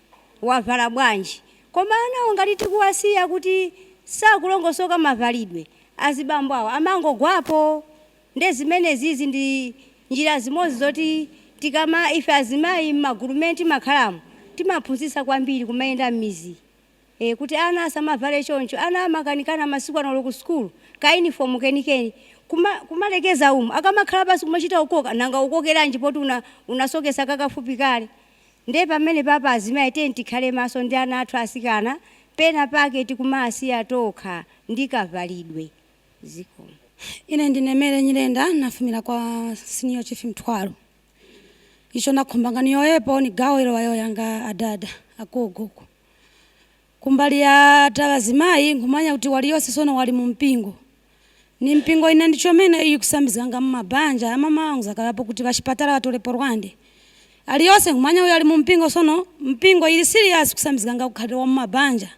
wavala bwanji koma anawo ngati tikuwasiya kuti sakulongosoka mavalidwe azibambo awo amangogwapo Nde zimenezizi ndi njira zimodzi zoti tikama ife azimayi mmagulu mmene timakhalamo timaphunzitsa kwambiri kumayenda mmidzi ee kuti ana asamavale choncho ana amakanikana masiku ano olo ku sukulu ka uniform kenikeni kuma kumalekeza umu akamakhala pansi kumachita kukoka nanga ukokeranji poti una unasoketsa kakafupi kale nde pamenepapa azimayi tiyeni tikhale maso ndi ana athu atsikana pena pake tikumaasiya tokha ndi kavalidwe Zikomo. Ine ndine Mary Nyirenda, nafumira kwa Senior Chief Mtwalo. Icho nakhumbanga niyowoyepo ni gawo ilo wayowoyanga adada, agogo uko. Kumbali ya ta bazimai, nkhumanya kuti waliyose sono wali mu mpingo. Ni mpingo ina ndi chomene iyi kusambizganga mu mabanja, ya mama wangu zakalapo kuti ba shipatala ba tolepo Rwande. Aliyose nkhumanya uyo ali mu mpingo sono, mpingo ili serious kusambizganga ukhalidwe wa mu mabanja.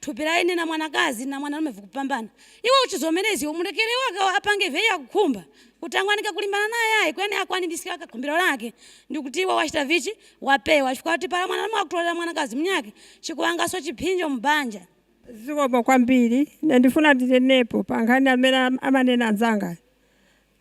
Thupi la ine na mwanakazi na mwanalume vikupambana. Iwe uchizomeleza iwe umulekele iwe apange ivyo iye akukhumba. Kutangwanika kulimbana naye ayi kweni akwaniliske kakhumbilo lake. Ndikuti iwe wachita vichi? Wapewa chifukwa wati pala mwanalume wakutolela mwanakazi mnyake chikuwangaso chiphinjo mubanja. Zikomo kwambiri. Ine ndifuna ndinenepo pankhani yamene amanena anzanga.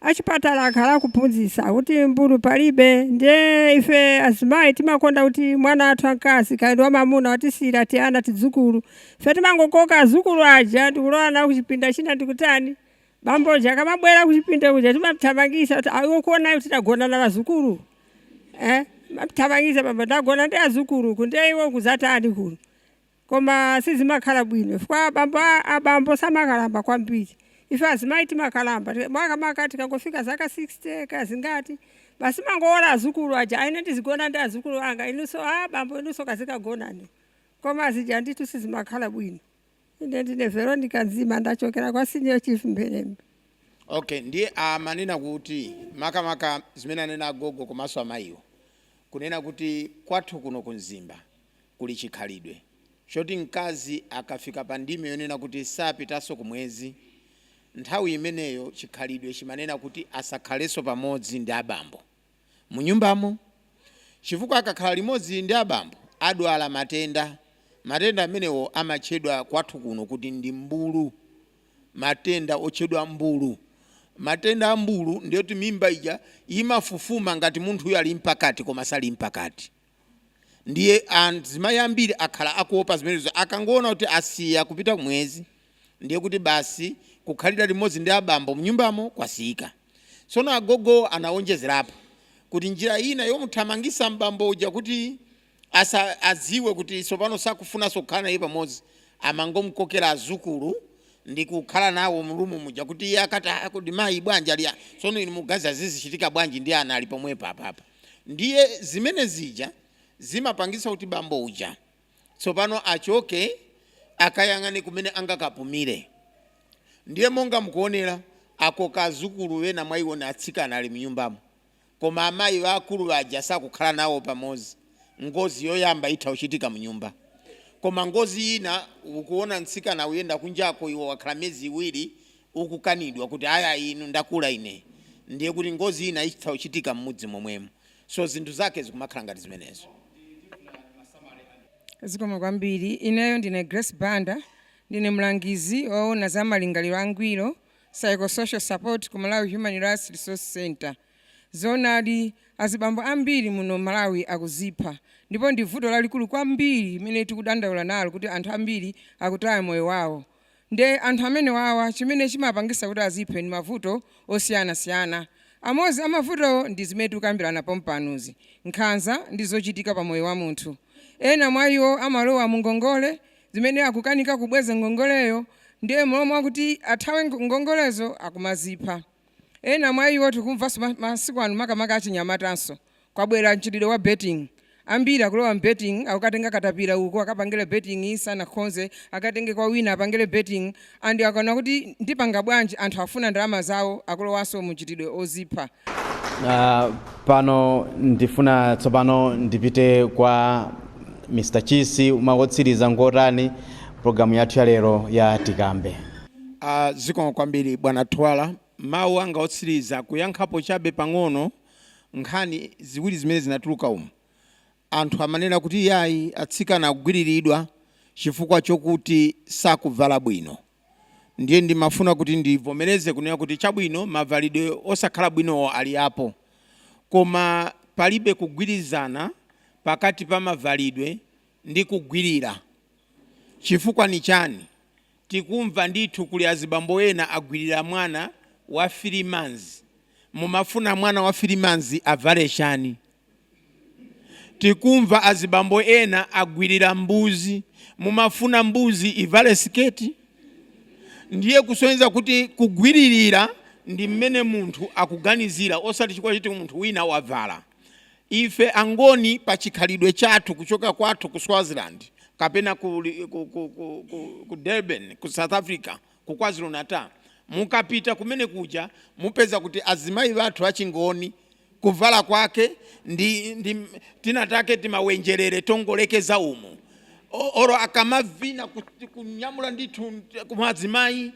Achipatala akhala akuphunzitsa kuti mbulu palibe ndiye ife azimayi timakonda kuti mwana wathu wamkazi kaya ndi wamamuna watisiyira tiana, tidzukulu. Ife timangokoka adzukulu aja ndi kulowa nawo kuchipinda china ndi kutani. Bambo uja akamabwera kuchipinda kuja timamuthamangitsa kuti, ah, iwe ukuona kuti tagona na adzukulu? Eh? Timamuthamangitsa bambo, tagona ndi adzukulu uku ndiye iwe ukudzatani kuno? Koma sizimakhala bwino chifukwa abambo samakalamba kwambiri. Ife azimayi timakalamba ti- makamaka tikangofika zaka 60 kaya zingati. Basi timangowona azukulu aja, ayi ine ndizigona ndi azukulu anga, inunso a bambo inunso kazikagonani. Koma zija ndithu sizimakhala bwino. Ine ndine Veronica Nzima ndachokera kwa Senior Chief M'mbelwa. Okay, ndiye amanena kuti makamaka zimene anena agogo komanso amayiwo kunena kuti kwathu kuno ku Mzimba Kuli chikhalidwe choti mkazi akafika pa ndime yonena kuti sapitanso kumwezi, nthawi imeneyo chikhalidwe chimanena kuti asakhalenso pamodzi ndi abambo munyumbamo chifukwa akakhala limodzi ndi abambo adwala matenda. Matenda amenewo amatchedwa kwathu kuno kuti ndi mbulu, matenda otchedwa mbulu. Matenda a mbulu ndi oti mimba ija imafufuma ngati munthuyo ali mpakati koma sali mpakati. Ndiye azimayi ambiri akhala akuopa zimenezo. Akangoona kuti asiya kupita kumwezi, ndiye kuti basi kukhalira limodzi ndi abambo m'nyumbamo kwasiyika. Tsono agogowo anawonjezerapo kuti njira ina yomuthamangitsa m'bambo uja kuti asa, adziwe kuti tsopano sakufunanso kukhala naye pamodzi, amangomukokera adzukulu ndi kukhala nawo m'rumu muja kuti iye akati kodi mayi bwanji ali, ah, tsono inu mukuganiza zizichitika bwanji ndi ana ali pomwepo apapa? Ndiye zimene zija zimapangitsa kuti bambo uja tsopano achoke akayang'ane kumene angakapumire. Ndiye monga mukuonera, akoka azukulu ena mwa iwo ni atsikana ali mnyumbamo. Koma amayi aakulu aja sakukhala nawo pamodzi. Ngozi yoyamba itha kuchitika mnyumba. Koma ngozi ina, ukuona mtsikana akuyenda kunjako, iwe wakhala miyezi iwiri ukukanidwa kuti aya inu ndakula ine ndiye kuti ngozi ina itha kuchitika mmudzi momwemu so zinthu zake zikumakhala ngati zimenezo. Zikomo kwambiri. Ineyo ndine Grace Banda, ndine mlangizi woona za malingaliro angwiro, psychosocial support, ku Malawi Human Rights Resource Centre. Zoonadi, azibambo ambiri muno m'Malawi akuzipha ndipo ndi vuto lalikulu kwambiri limene tikudandaula nalo kuti anthu ambiri akutaya moyo wawo. Nde anthu amenewawa chimene chimapangisa kuti aziphe ndi mavuto osiyana siyana. Amozi amavutowo ndi zimene tikukambilana pompanuzi, nkhanza ndi zochitika pa moyo wa munthu. Ena mwa iwo amalowa mu ngongole zimene akukanika kubweza ngongoleyo nde m'malo mwakuti athawe ngongolezo akumazipha. Ena mwa iwo tikumvaso masiku ano makamaka achinyamatanso Kwabwera mchitidwe wa betting. Ambiri akulowa m'betting akukatenga katapira uko akapangile betting sanakhonze, akatenge kwa wina apangile betting and akaona kuti ndipanga bwanji anthu akufuna ndalama zawo akulowanso mu mchitidwe odzipha. Pano ndifuna tsopano ndipite kwa Mr Chisi mawu otsiriza ngotani program yathu ya lero ya Tikambe. Zikomo kwambiri bwana Twala. Mawu anga otsiriza kuyankhapo chabe pang'ono. nkhani ziwiri zimene zinatuluka umu, anthu amanena kuti iyayi atsikana akugwiriridwa chifukwa chokuti sakubvala bwino. Ndiye ndimafuna kuti ndibvomereze kunena kuti chabwino mabvalidwe osakhala bwinowo alipo koma palibe kugwirizana pakati pa mabvalidwe ndi kugwirira. Chifukwa nichani? Tikumva ndithu kuli azibambo ena agwirira mwana wa 3 months mumafuna mwana wa 3 months avale chani? Tikumva azibambo ena agwirira mbuzi mumafuna mbuzi ivale siketi? Ndiye kusonyeza kuti kugwiririra ndi mmene munthu akuganizira osati chifukwa choti munthu wina wavala. Ife angoni pa chikhalidwe chathu kuchoka kwathu ku Swaziland kapena ku, ku, ku, ku, ku, ku Durban ku South Africa ku KwaZulu Natal mukapita kumene kuja mupeza kuti azimayi bathu achingoni kuvala kwake ndi, ndi tina take timawenjerere tongolekeza umu oro akamavina kunyamula ndithu kumazimayi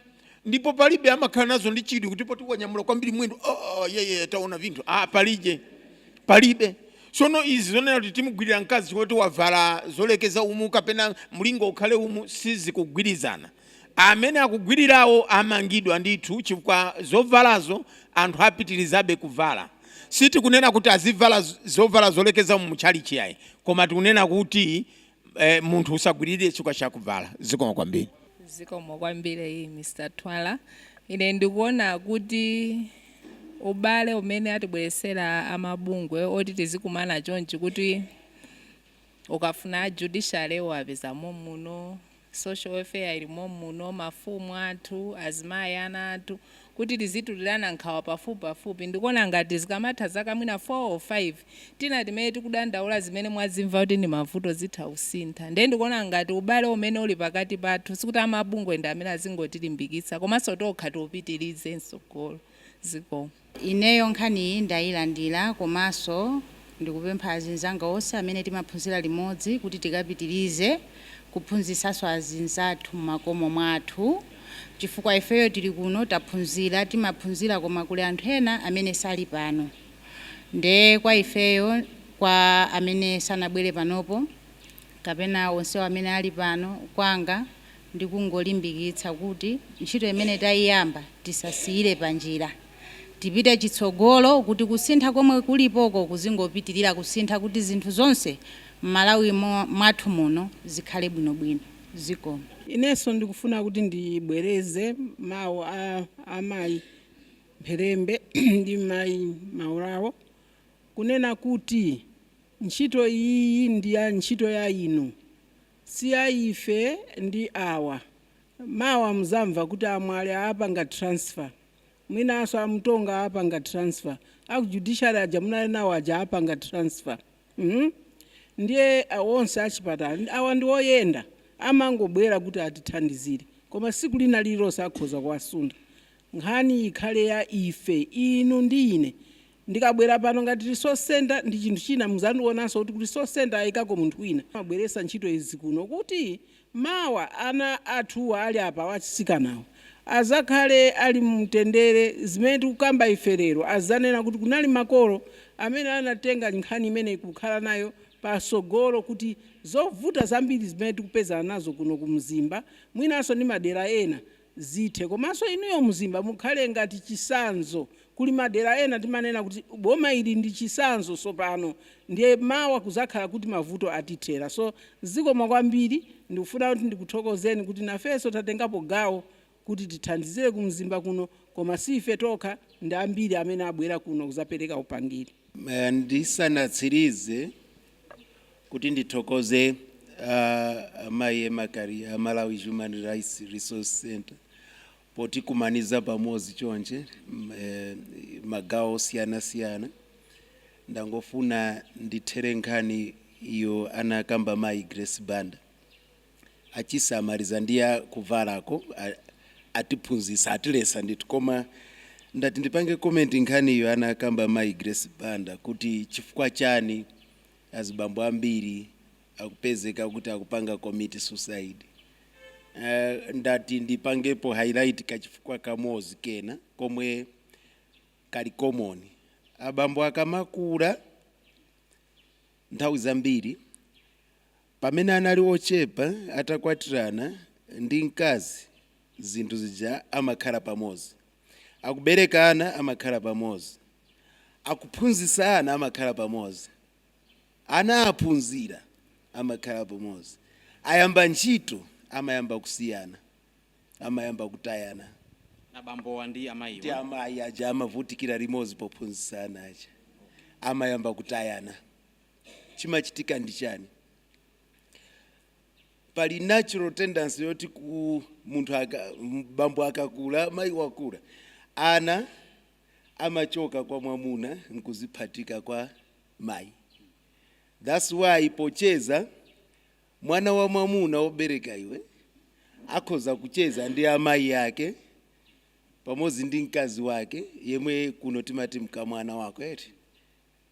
ndipo palibe amakhala nazo ndi chidwi kuti poti wanyamula kwambiri mwendo oh, oh, yeah, yeah, taona vinthu ah, palije palibe sono izi zonena kuti timugwirira mkazi woti wavala zolekeza umu kapena mlingo ukhale umu sizikugwirizana amene akugwirirawo amangidwe ndithu chifukwa zovalazo anthu apitirizabe kuvala sitikunena kuti azivala z- zovala zolekeza umu mutchalitchi ayi koma tikunena kuti eh, munthu usagwiririre chikwa chakubvala zikomo kwambiri zikomo kwambiri iyi mr twala ine ndikuona kuti ubale umene atibweresera amabungwe oti tizikumana chonchi kuti ukafuna judiciary uwapezamo muno social welfare ilimo muno mafumu athu azimayi ana athu kuti tizitulirana nkhawa pafupipafupi. Ndikuona ngati zikamatha zaka mwina 4 or 5 tina timene tikudandaula zimene mwazimva kuti ndi mavuto zitha kusintha. Ndiye ndikuona ngati ubale umene uli pakati pathu sikuti amabungwe ndi amene azingotilimbikitsa komanso tokha tiupitirize mtsogolo. Zikomo. Ineyo nkhaniyi ndayilandira komanso Ndikupempha azinzanga onse amene timaphunzira limodzi kuti tikapitilize kuphunzisaso azinzathu mmakomo mwathu chifukwa ifeyo tili kuno taphunzira timaphunzira koma kuli anthu ena amene sali pano nde kwa ifeyo kwa amene sanabwere panopo kapena onsewo amene ali pano kwanga ndikungolimbikitsa kuti ntchito imene taiyamba tisasiyire panjira. Tipite chitsogolo kuti kusintha komwe kulipoko kuzingopitilira kusintha kuti zinthu zonse mmalawi mwathu muno zikhale bwino bwino. Zikomo. Inenso ndikufuna kuti ndibwereze mawu a amayi Mpherembe ndi mayi Maulawo kunena kuti ntchito iyi ndi ya ntchito ya inu si ya ife ndi awa mawa muzamva kuti a Mwale apanga transfer. Mwinanso a Mutonga apanga transfer. A ku judiciary aja munali nawo aja apanga transfer. Hmm? Ndiye a onse a chipatala awa ndi oyenda amangobwera kuti atithandizire. Koma siku lina lililonse akhoza kuwasuntha. Nkhani ikhale ya ife, inu ndi ine. Ndikabwera pano ngati resource centre ndi chinthu china muzandionanso kuti resource centre aikako munthu wina. Amabweretsa ntchito izi kuno kuti Mawa ana athuwa ali apawa atsikanawo azakhale ali mumtendere zimene tikukamba ife lero azanena kuti kunali makolo amene anatenga nkhani imene kukhala nayo pa sogolo kuti zovuta zambiri zimene tikupezana nazo kuno ku mzimba mwinanso ndi madera ena zithe komanso inuyo mzimba mukhale ngati chisanzo kuli madera ena timanena kuti boma ili ndi chisanzo sopano ndiye mawa kuzakhala kuti mavuto atithera so zikomo kwambiri ndikufuna kuti ndikuthokozeni kuti nafenso tatengapo gawo kuti tithandizire ku mzimba kuno koma siife tokha ndi ambiri amene abwera kuno kuzapereka upangiri. Ndisanatsirize kuti ndithokoze uh, amayi Emma Kaliya a malawi human rights resource center potikumaniza pamodzi chonchi m- eh, magawo osiyanasiyana ndangofuna ndithere nkhani iyo anakamba mayi grace banda achisamaliza ndi ya kuvalako atiphunzitsa atilesa ndithu koma ndati ndipange comment nkhani iyo anakamba mayi Grace Banda kuti chifukwa chani azibambo ambiri akupezeka kuti akupanga commit suicide ndati ndipangepo highlight kachifukwa kamodzi kena komwe kali common abambo akamakula nthawi zambiri Pamene anali ochepa atakwatirana ndi mkazi zinthu zija amakhala pamodzi. Akubereka ana amakhala pamodzi. Akuphunzitsa ana amakhala pamodzi. Ana aphunzira amakhala pamodzi. Ayamba ntchito amayamba kusiyana, amayamba kutayana. Abambo ndi amayi. Ndi amayi aja amavutikira limodzi pophunzitsa ana aja amayamba kutayana. chimachitika ndi chani pali natural tendency yoti ku munthu aka- m- bambo akakula mayi wakula ana amachoka kwa mwamuna nkuziphatika kwa mayi thats why pocheza mwana wamwamuna wobereka iwe akhoza kucheza ndi amayi ake pamodzi ndi mkazi wake yemwe kuno timati mkamwana wako eti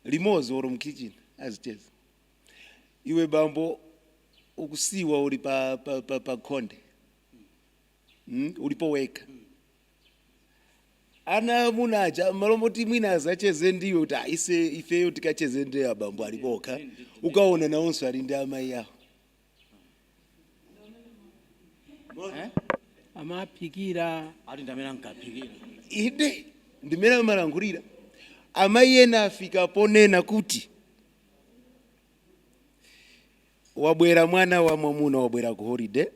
limodzi or mkitchen azicheza, iwe bambo ukusiyidwa uli pa, pa, pa, pa khonde mm? ulipo wekha ana amuna aja mmalo moti mwina azacheze ndiwe kuti "Ah, ise ifeyo tikacheze ndi abambo ali pokha ukaona nawonso ali ndi amayi awo Eh? amaphikira ati ndi mmene ankaphikira inde ndi mmene amalankhulira amayi ena afika ponena kuti wabwera mwana wamwamuna wabwera ku holiday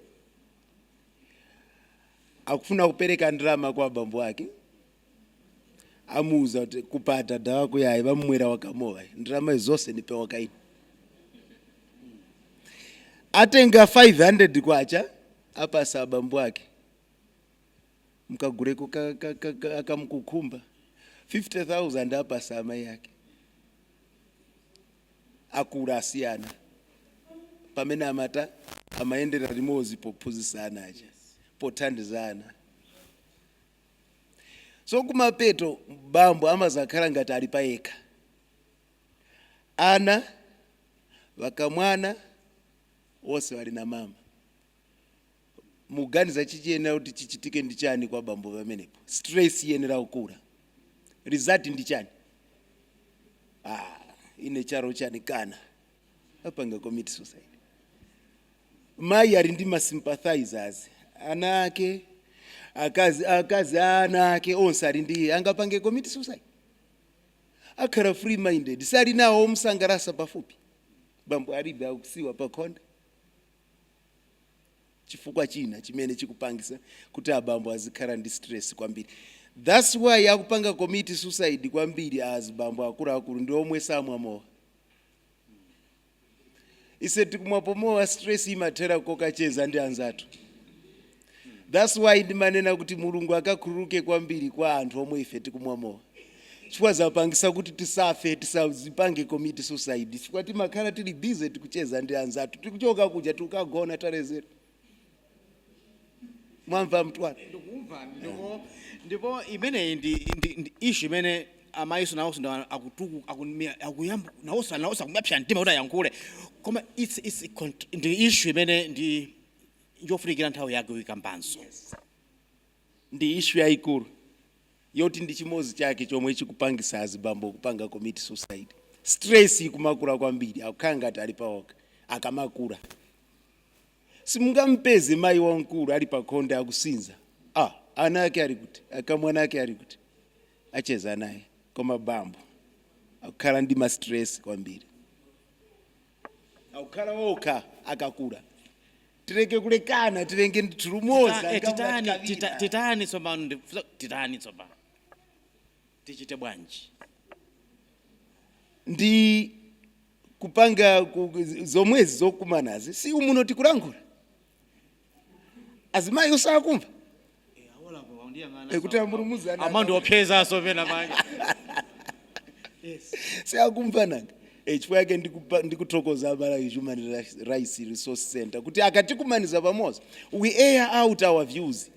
akufuna kupereka ndalama kwa abambo ake amuuza kuti kupa adada wako yayi, bamwera waka mowa ndalama zonse nipe waka ine atenga 500 kwacha apasa abambo ake mkaguleko ka- ka- ka- ka- akamkukhumba 50000 apasa amayi ake akula asiyana pamene amayendera limodzi pophunzitsa ana aja pothandizana so kumapeto bambo amazakhala ngati ali payekha ana wakamwana wose wali na mama muganiza chikuyenera kuti chichitike ndi chani kwa bambo pamenepo stress iyenera kukula result ndi chani ah, ine charo chanikana apanga commit suicide mayi ali ndi ma sympathizers ana ake akazi akazi a ana ake onse ali ndi iye angapange commit suicide akhala free minded ali nawo omsangalatsa pafupi bambo alibe akusiyidwa pakhonde chifukwa china chimene chikupangitsa kuti abambo azikhala ndi stress kwambiri thats why akupanga commit suicide kwambiri azibambo akuluakulu ndi omwe samwa mowa mm. ise tikumwapo mowa stress imathera kokacheza ndi anzathu that's why ndimanena kuti mulungu akakhululuke kwambiri kwa anthu omwe ife tikumwa mowa chifukwa zapangisa kuti tisafe tisazipange commit suicide chifukwa timakhala tili busy tikucheza ndi anzathu tikuchoka kuja tikukagona talezera mwamva mtu ake ndikuwumvani ndipo ndipo imeneyi ndi ndi- ndi issue imene amayinso nawonso ndi akutuku akunimira- akuyamba nawonso nawonso akumapsa mtima kuti ayankhule koma it's it's a cont- ndi issue imene ndi yofunikira nthawi yake uyikambanso Ndi issue yaikulu yoti ndi chimodzi chake chomwe chikupangisa azibambo kupanga commit suicide. Stress ikumakula kwambiri akukhala ngati ali paokha akamakula. Simungamupeze mayi wamkulu ali pakhonde akusinza, ah ana ake ali kuti? Akamwana ake ali kuti? Achezanaye. Koma bambo akukhala ndi ma stress kwambiri. akukhala okha akakula tileke kulekana tilenge nthulumoza Tita- eh, titani tita- ngaulatikavina titani tsopano ndi- funa- titani tsopano tichite bwanji ndi kupanga ku- zomwezi zokumanazi si umuno tikulankhula azimayi osakumva kuti a mulumuzana amandiopsezaso pena manje si akumva nanga Eh, chifukwa yake ndikupa- ndikuthokoza a Malawi Human Ri- Rights Resource Center kuti akatikumaniza pamodzi we air out our views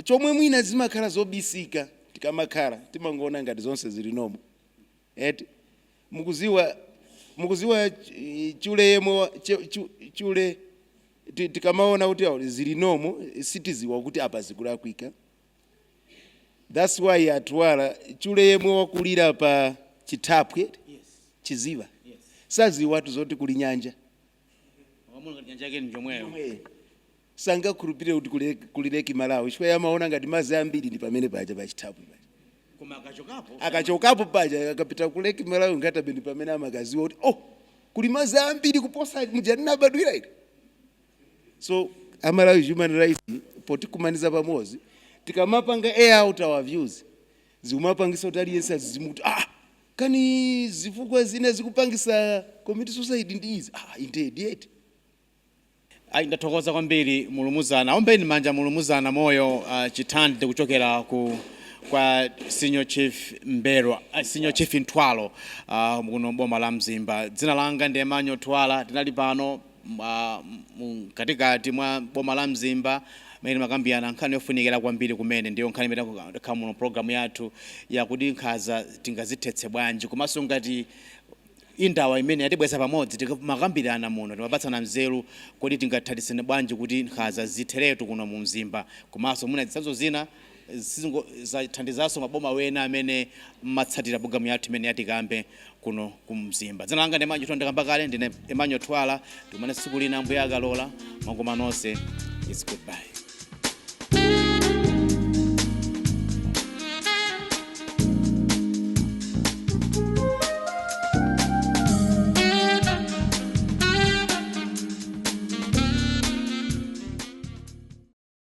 chomwe mwina zimakhala zobisika tikamakhala timangoona ngati zonse zili nomo Eti? Mukuziwa, mukuziwa chule yemwe wa, che, chu, chule ti- tikamaona kuti awo zili nomo sitiziwa kuti apa zikulakwika. That's why a Twala chule yemwe wakulira pa chithaphwi eti? chiziwa saziwatu zoti kuli nyanja sangakhulupirire kuti kuli Lake Malawi chifukwa iye amaona ngati madzi ambiri ndi pamene paja pa chithaphwi paja akachokapo paja akapita ku Lake Malawi Nkhata Bay ndi pamene amakaziwa kuti oh kuli madzi ambiri kuposa muja ndinabadwira ine so a Malawi Human Rights potikumaniza pamodzi tikamapanga air out our views zikumapangisa kuti aliyense azizimuka kuti ah kani zifukwa zina zikupangisa commit suicide ndi izi ah indeed eti. Ayi ndathokoza kwambiri mulumuzana ombeni manja mulumuzana moyo uh, Chitandire kuchokera ku kwa senior chief M'mbelwa uh, senior chief Mtwalo uh, kuno boma la Mzimba. Dzina langa ndi Emmanuel Twala, tinali pano Mkatikati mwa boma la Mzimba mene timakambirana nkhani yofunikira kwambiri kumene ndiyo nkhani imene yakhala muno program yathu ya kuti nkhaza tingazithetse bwanji komanso ngati indawa imene yatibweza pamodzi timakambirana muno timapatsana nzeru kuti tingathandizane bwanji kuti nkhaza zitheretu kuno mu Mzimba komanso mwina zitsanzo zina Zizathandizanso maboma wena amene mumatsatira program yathu imene ya Tikambe kuno ku Mzimba. Dzina langa ndi Emmanuel Thwala ndakamba kale ndine Emmanuel Thwala tikumane tsiku lina Ambuye akalola mwakoma nonse it's goodbye.